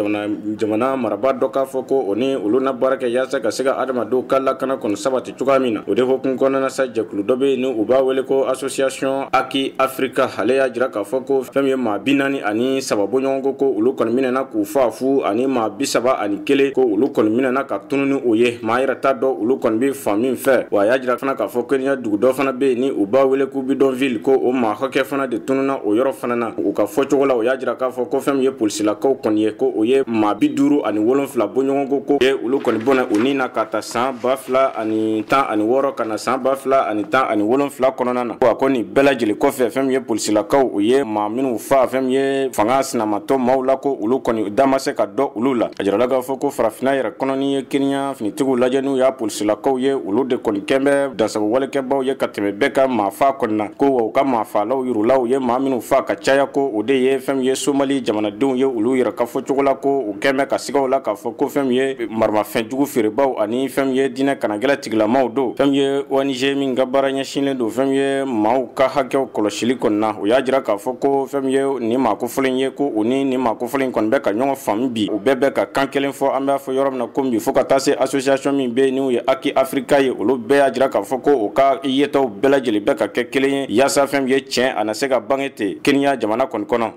jamana marabaa dɔ k'a fɔ ko o ni olu na baara kɛ yaasa ka se ka adamadenw ka lakana kɔni sabati. cogoya min na o de hokumu kɔnɔna sa jɛkulu dɔ bɛ yen ni u b'a wele ko association haki afrika ale y'a jira k'a fɔ ko fɛn min ye maa bi naani ani saba bɔɲɔgɔn ko ko olu kɔni minɛna k'u fa fu ani maa bi saba ani kelen ko olu kɔni minɛna ka tunu ni o ye maa yɛrɛ t'a dɔn olu kɔni bɛ fan min fɛ wa a y'a jira fana k'a fɔ kenya dugu dɔ fana bɛ yen ni u b'a wele ko bidonville ko o maa hakɛ fana de tununa o yɔrɔ fana na u ka fɔcogo la o y'a jira k'a fɔ ko fɛn min ye polisilakaw kɔni ye ko u ye maa bi duuru ani wolonfila bɔɲɔgɔn ko k'u ye olu kɔni bɔnɛ u ni na k'a ta san ba fila ani tan ani wɔɔrɔ ka na san ba fila ani tan ani wolonfila kɔnɔna na a ko nin bɛɛ lajɛlen kɔfɛ fɛn min ye polisilakaw u ye maa minnu fa fɛn min ye fanga sinamatɔn maaw la ko olu kɔni da ma se ka dɔn olu la a jirala k'a fɔ ko farafina yɛrɛ kɔnɔ n'i ye keniya finitigiw lajɛ n'u y'a polisilakaw ye olu de kɔni kɛn bɛ dansago walekɛbaw ye ka tɛmɛ bɛɛ kan maa fa kɔni na ko wa u ka maa faalaw yɛrɛ la u ye maa minnu fa ka caya ko o de ye fɛn min ye somali jamanadenw ye olu yɛrɛ ka fɔ cogo la ko u kɛn bɛ ka siga u la k'a fɔ ko fɛn min ye maramafɛnjugu feerebaw ani fɛn min ye diinɛ kanagɛlɛ tigilamaw don fɛn min ye ONG min ka baara ɲɛsinlen don fɛn min ye maaw ka hakɛw kɔlɔsili kɔni na u y'a jira k'a fɔ ko fɛn min ye nin maa kofɔlen ye ko u ni nin maa kofɔlen kɔni bɛ ka ɲɔgɔn faamu bi u bɛɛ bɛ ka kan kelen fɔ an b'a fɔ yɔrɔ min na ko bi fo ka taa se association min bɛ yen n'u ye Haki Afrika ye olu bɛɛ y'a jira k'a fɔ ko u ka yetaw bɛɛ lajɛlen bɛ ka kɛ kelen ye yaasa fɛn min ye tiɲɛ a na se ka bange ten Kenya jamana kɔni kɔnɔ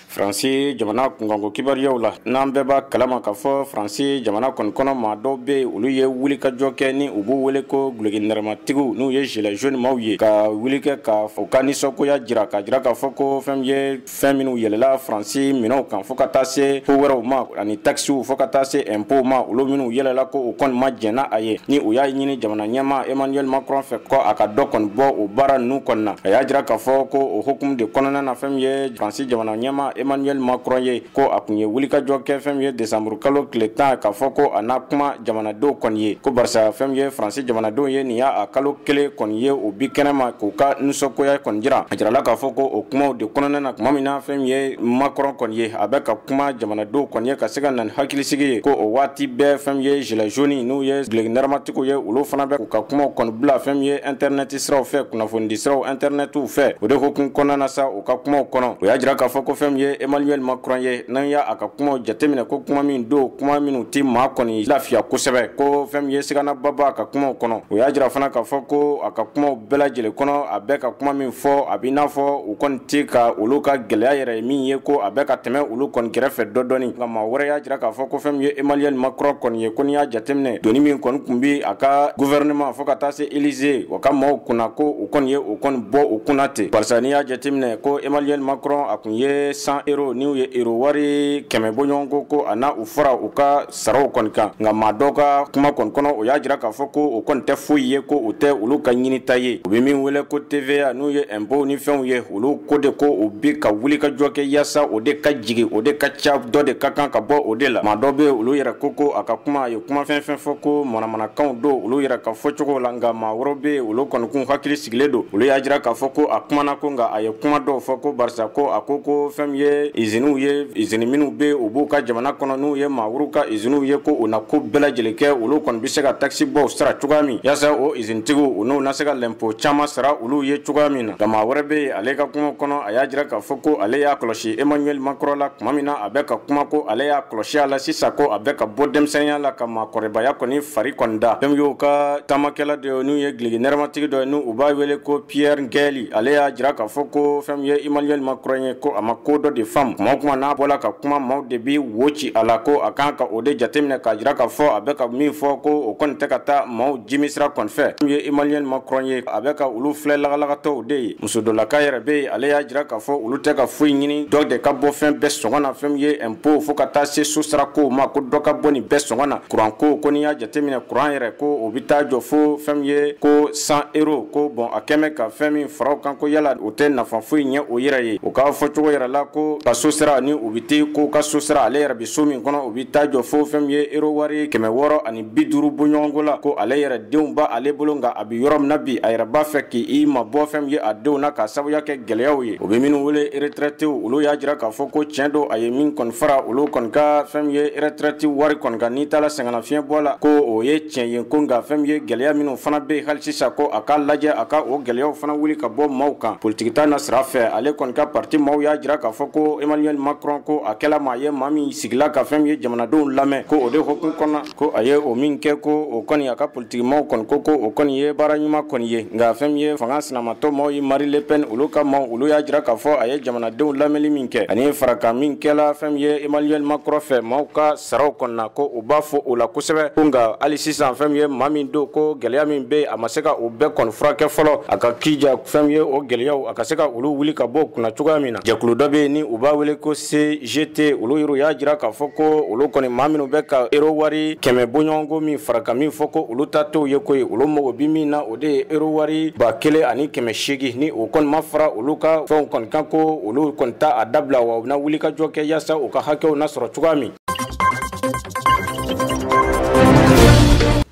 faransi jamana kunkanko kibaruyaw la n'an bɛɛ b'a kalama k'a fɔ faransi jamana kɔni kɔnɔ maa dɔw bɛ yen olu ye wulikajɔ kɛ ni u b'u wele ko guloki nɛrɛmatigiw n'u ye gilet jaune maaw ye ka wuli kɛ ka u ka nisɔngoya jira k'a jira k'a fɔ ko fɛn min ye fɛn minnu yɛlɛla faransi minɛnw kan fo ka taa se ko wɛrɛw ma ani takisiw fo ka taa se ɛnpow ma olu minnu yɛlɛla ko u kɔni ma jɛn n'a ye ni u y'a ɲini jamana ɲɛmaa emmanuel macron fɛ ko a ka dɔ kɔni bɔ o baara ninnu kɔni na a y'a jira k'a fɔ ko o hukumu de kɔnɔna na fɛn min ye Faransi jamana ɲɛmaa Emmanuel Macron ye ko a kun ye wulikajɔ kɛ fɛn min ye desanburu kalo tile tan k'a fɔ ko a na kuma jamanadenw kɔni ye ko barisa fɛn min ye Faransi jamanadenw ye nin y'a kalo kelen kɔni ye u bi kɛnɛma k'u ka nisɔngoya kɔni jira a jirala k'a fɔ ko o kumaw de kɔnɔna na tuma min na fɛn min ye Macron kɔni ye a bɛ ka kuma jamanadenw kɔni ye ka se ka na ni hakilisigi ye ko o waati bɛɛ fɛn min ye gilet jaune n'u ye guloki nɛrɛmatigiw ye olu fana bɛ k'u ka kumaw kɔni bila fɛn min ye internet siraw fɛ kunnafonidi siraw internetiw fɛ o de hokumu kɔnɔna na sa U ka kumaw kɔnɔ u y'a jira k'a fɔ ko fɛn min ye Emmanuel Macron ye n'an y'a a ka kuma jateminɛ ko kuma min don kuma minnu tɛ maa kɔni lafiya kosɛbɛ ko fɛn min ye siganaba b'a ka kuma kɔnɔ u y'a jira fana k'a fɔ ko a ka kuma bɛɛ lajɛlen kɔnɔ a bɛ ka kuma min fɔ a b'i n'a fɔ u kɔni tɛ ka olu ka gɛlɛya yɛrɛ ye min ye ko a bɛ ka tɛmɛ olu kɔni kɛrɛfɛ dɔ dɔni nka maa wɛrɛ y'a jira k'a fɔ ko fɛn min ye Emmanuel Macron kɔni ye ko n'i y'a jateminɛ doni min kɔni kun bɛ a ka gouvernement fo ka taa se Élysée o ka maaw kunna ko o kɔni ye o kɔni bɔ o kunna ten barisa n'i y'a jateminɛ ko emmanuel macron a kun ye cent euro n'u ye euro wari kɛmɛ bɔɲɔgɔnko ko a na u fara u ka saraw kɔni kan nka maa dɔ ka kuma kɔni kɔnɔ o y'a jira k'a fɔ ko o kɔni tɛ foyi ye ko o tɛ olu ka ɲinita ye u bɛ min wele ko tva n'u ye ɛnpow ni fɛnw ye olu ko de ko u bɛ ka wuli ka jɔ kɛ yaasa o de ka jigin o de ka ca dɔ de ka kan ka bɔ o de la maa dɔ bɛ olu yɛrɛ ko ko a ka kuma a ye kuma fɛn fɛn fɔ ko manamanakanw don olu yɛrɛ ka fɔcogo la nka maa wɛrɛw be yen olu kɔni kun hakili sigilen don olu y'a jira k'a fɔ ko a kumana ko nka a ye kuma dɔw fɔ ko barisa ko a ko ko fɛn min ye iziniw ye izini minw be u b'u ka jamana kɔnɔ n'u ye maa wɛrɛw ka iziniw ye ko u na ko bɛɛ lajɛlen kɛ olu kɔni be se ka takisi bɔw sara cogoya min yaasa o izinitigiw u n'u na se ka lɛnpo caaman sara olu ye cogoya min na nka maa wɛrɛ be yen ale ka kuma kɔnɔ a y'a jira k'a fɔ ko ale y'a kɔlɔsi emmanuel macron la kuma min na a bɛ ka kuma ko ale y'a kɔlɔsi a la sisan ko a bɛ ka bɔ denmisɛnninya la ka maakɔrɔbaya kɔni fari kɔni da fɛn min y'u ka taamakɛla dɔ ye n'u ye giligi nɛrɛmatigi dɔ ye ni u b'a wele ko pierre ngɛli ale y'a jira k'a fɔ ko fɛn min ye emmanuel macron ye ko a ma ko dɔ de faamu kuma o kuma n'a bɔla ka kuma maaw de bi wo ci a la ko a kan ka o de jateminɛ k'a jira k'a fɔ a bɛ ka min fɔ ko o kɔni tɛ ka taa maaw jimi sira kɔni fɛ fɛn min ye emmanuel macron ye a bɛ ka olu filɛ lagalagatɔw de ye muso dɔ laka yɛrɛ bɛ yen ale y'a jira k'a fɔ olu tɛ ka foyi ɲini dɔ de ka bɔ fɛn bɛɛ sɔngɔ na fɛn min ye ɛnpo fo ka taa se sosarakow ma ko dɔ ka bɔ nin bɛɛ sɔngɔ na kuranko ko n'i y'a jateminɛ kuran yɛrɛ ko o bɛ taa jɔ fo fɛn min ye ko cent euro ko bon a kɛmɛ ka fɛn min fara u kan ko yala o tɛ nafa foyi ɲɛ o yɛrɛ ye o ka fɔcogo yɛrɛ la ko ka so sara ni o bɛ ten ko ka so sara ale yɛrɛ bɛ so min kɔnɔ o bɛ taa jɔ fo fɛn min ye ero wari kɛmɛ wɔɔrɔ ani bi duuru bɔɲɔgɔnko la ko ale yɛrɛ denw b'ale bolo nka a bɛ yɔrɔ min na bi a yɛrɛ b'a fɛ k'i mabɔ fɛn min ye a denw na k'a sabuya kɛ gɛlɛyaw ye u bɛ minnu wele eretrɛtew olu y'a jira k'a fɔ ko tiɲɛ don a ye min kɔni fara olu kɔni ka fɛn min ye eretrɛti wari kɔni kan n'i taara sɛgɛnnafiɲɛbɔ la ko o ye tiɲɛ ye ko nka fɛn min ye gɛlɛya minnu fana bɛ yen hali sisan ko a ka lajɛ a ka o gɛlɛyaw fana wuli ka bɔ maaw kan politiki ta nasira fɛ ale kɔni ka parti maaw y'a jira k'a fɔ ko emmanuel macron ko a kɛla maa ye maa min sigila ka fɛn min ye jamanadenw lamɛn ko o de hukumu kɔnɔ ko a ye o min kɛ ko o kɔni a ka politiki maaw kɔni ko ko o kɔni ye baara ɲuman kɔni ye nka fɛn min ye fanga sinamatɔn maaw ye mari le pen olu ka maaw olu y'a jira k'a fɔ a ye jamanadenw lamɛnli min kɛ ani farankan min kɛla fɛn min ye emmanuel macron fɛ maaw ka saraw kɔni na ko u b'a fo o la kosɛbɛ ko nka hali sisan fɛn min ye maa min don ko gɛlɛya min bɛ yen a ma se ka o bɛɛ kɔni furakɛ fɔlɔ a ka kija fɛn min ye o gɛlɛyaw a ka se ka olu wuli ka bɔ kunna cogoya min na jɛkulu dɔ bɛ yen ni u b'a wele ko se jete olu yɛrɛ y'a jira k'a fɔ ko olu kɔni maa minnu bɛ ka ero wari kɛmɛ bɔɲɔgɔnko min farankan min fɔ ko olu ta t'o ye koyi olu mago bi min na o de ye ero wari ba kelen ani kɛmɛ seegin ni o kɔni ma fara olu ka fɛnw kɔni kan ko olu kɔni t'a dabila wa u bɛna wulikajɔ kɛ yaasa u ka hakɛw na sɔrɔ cogoya min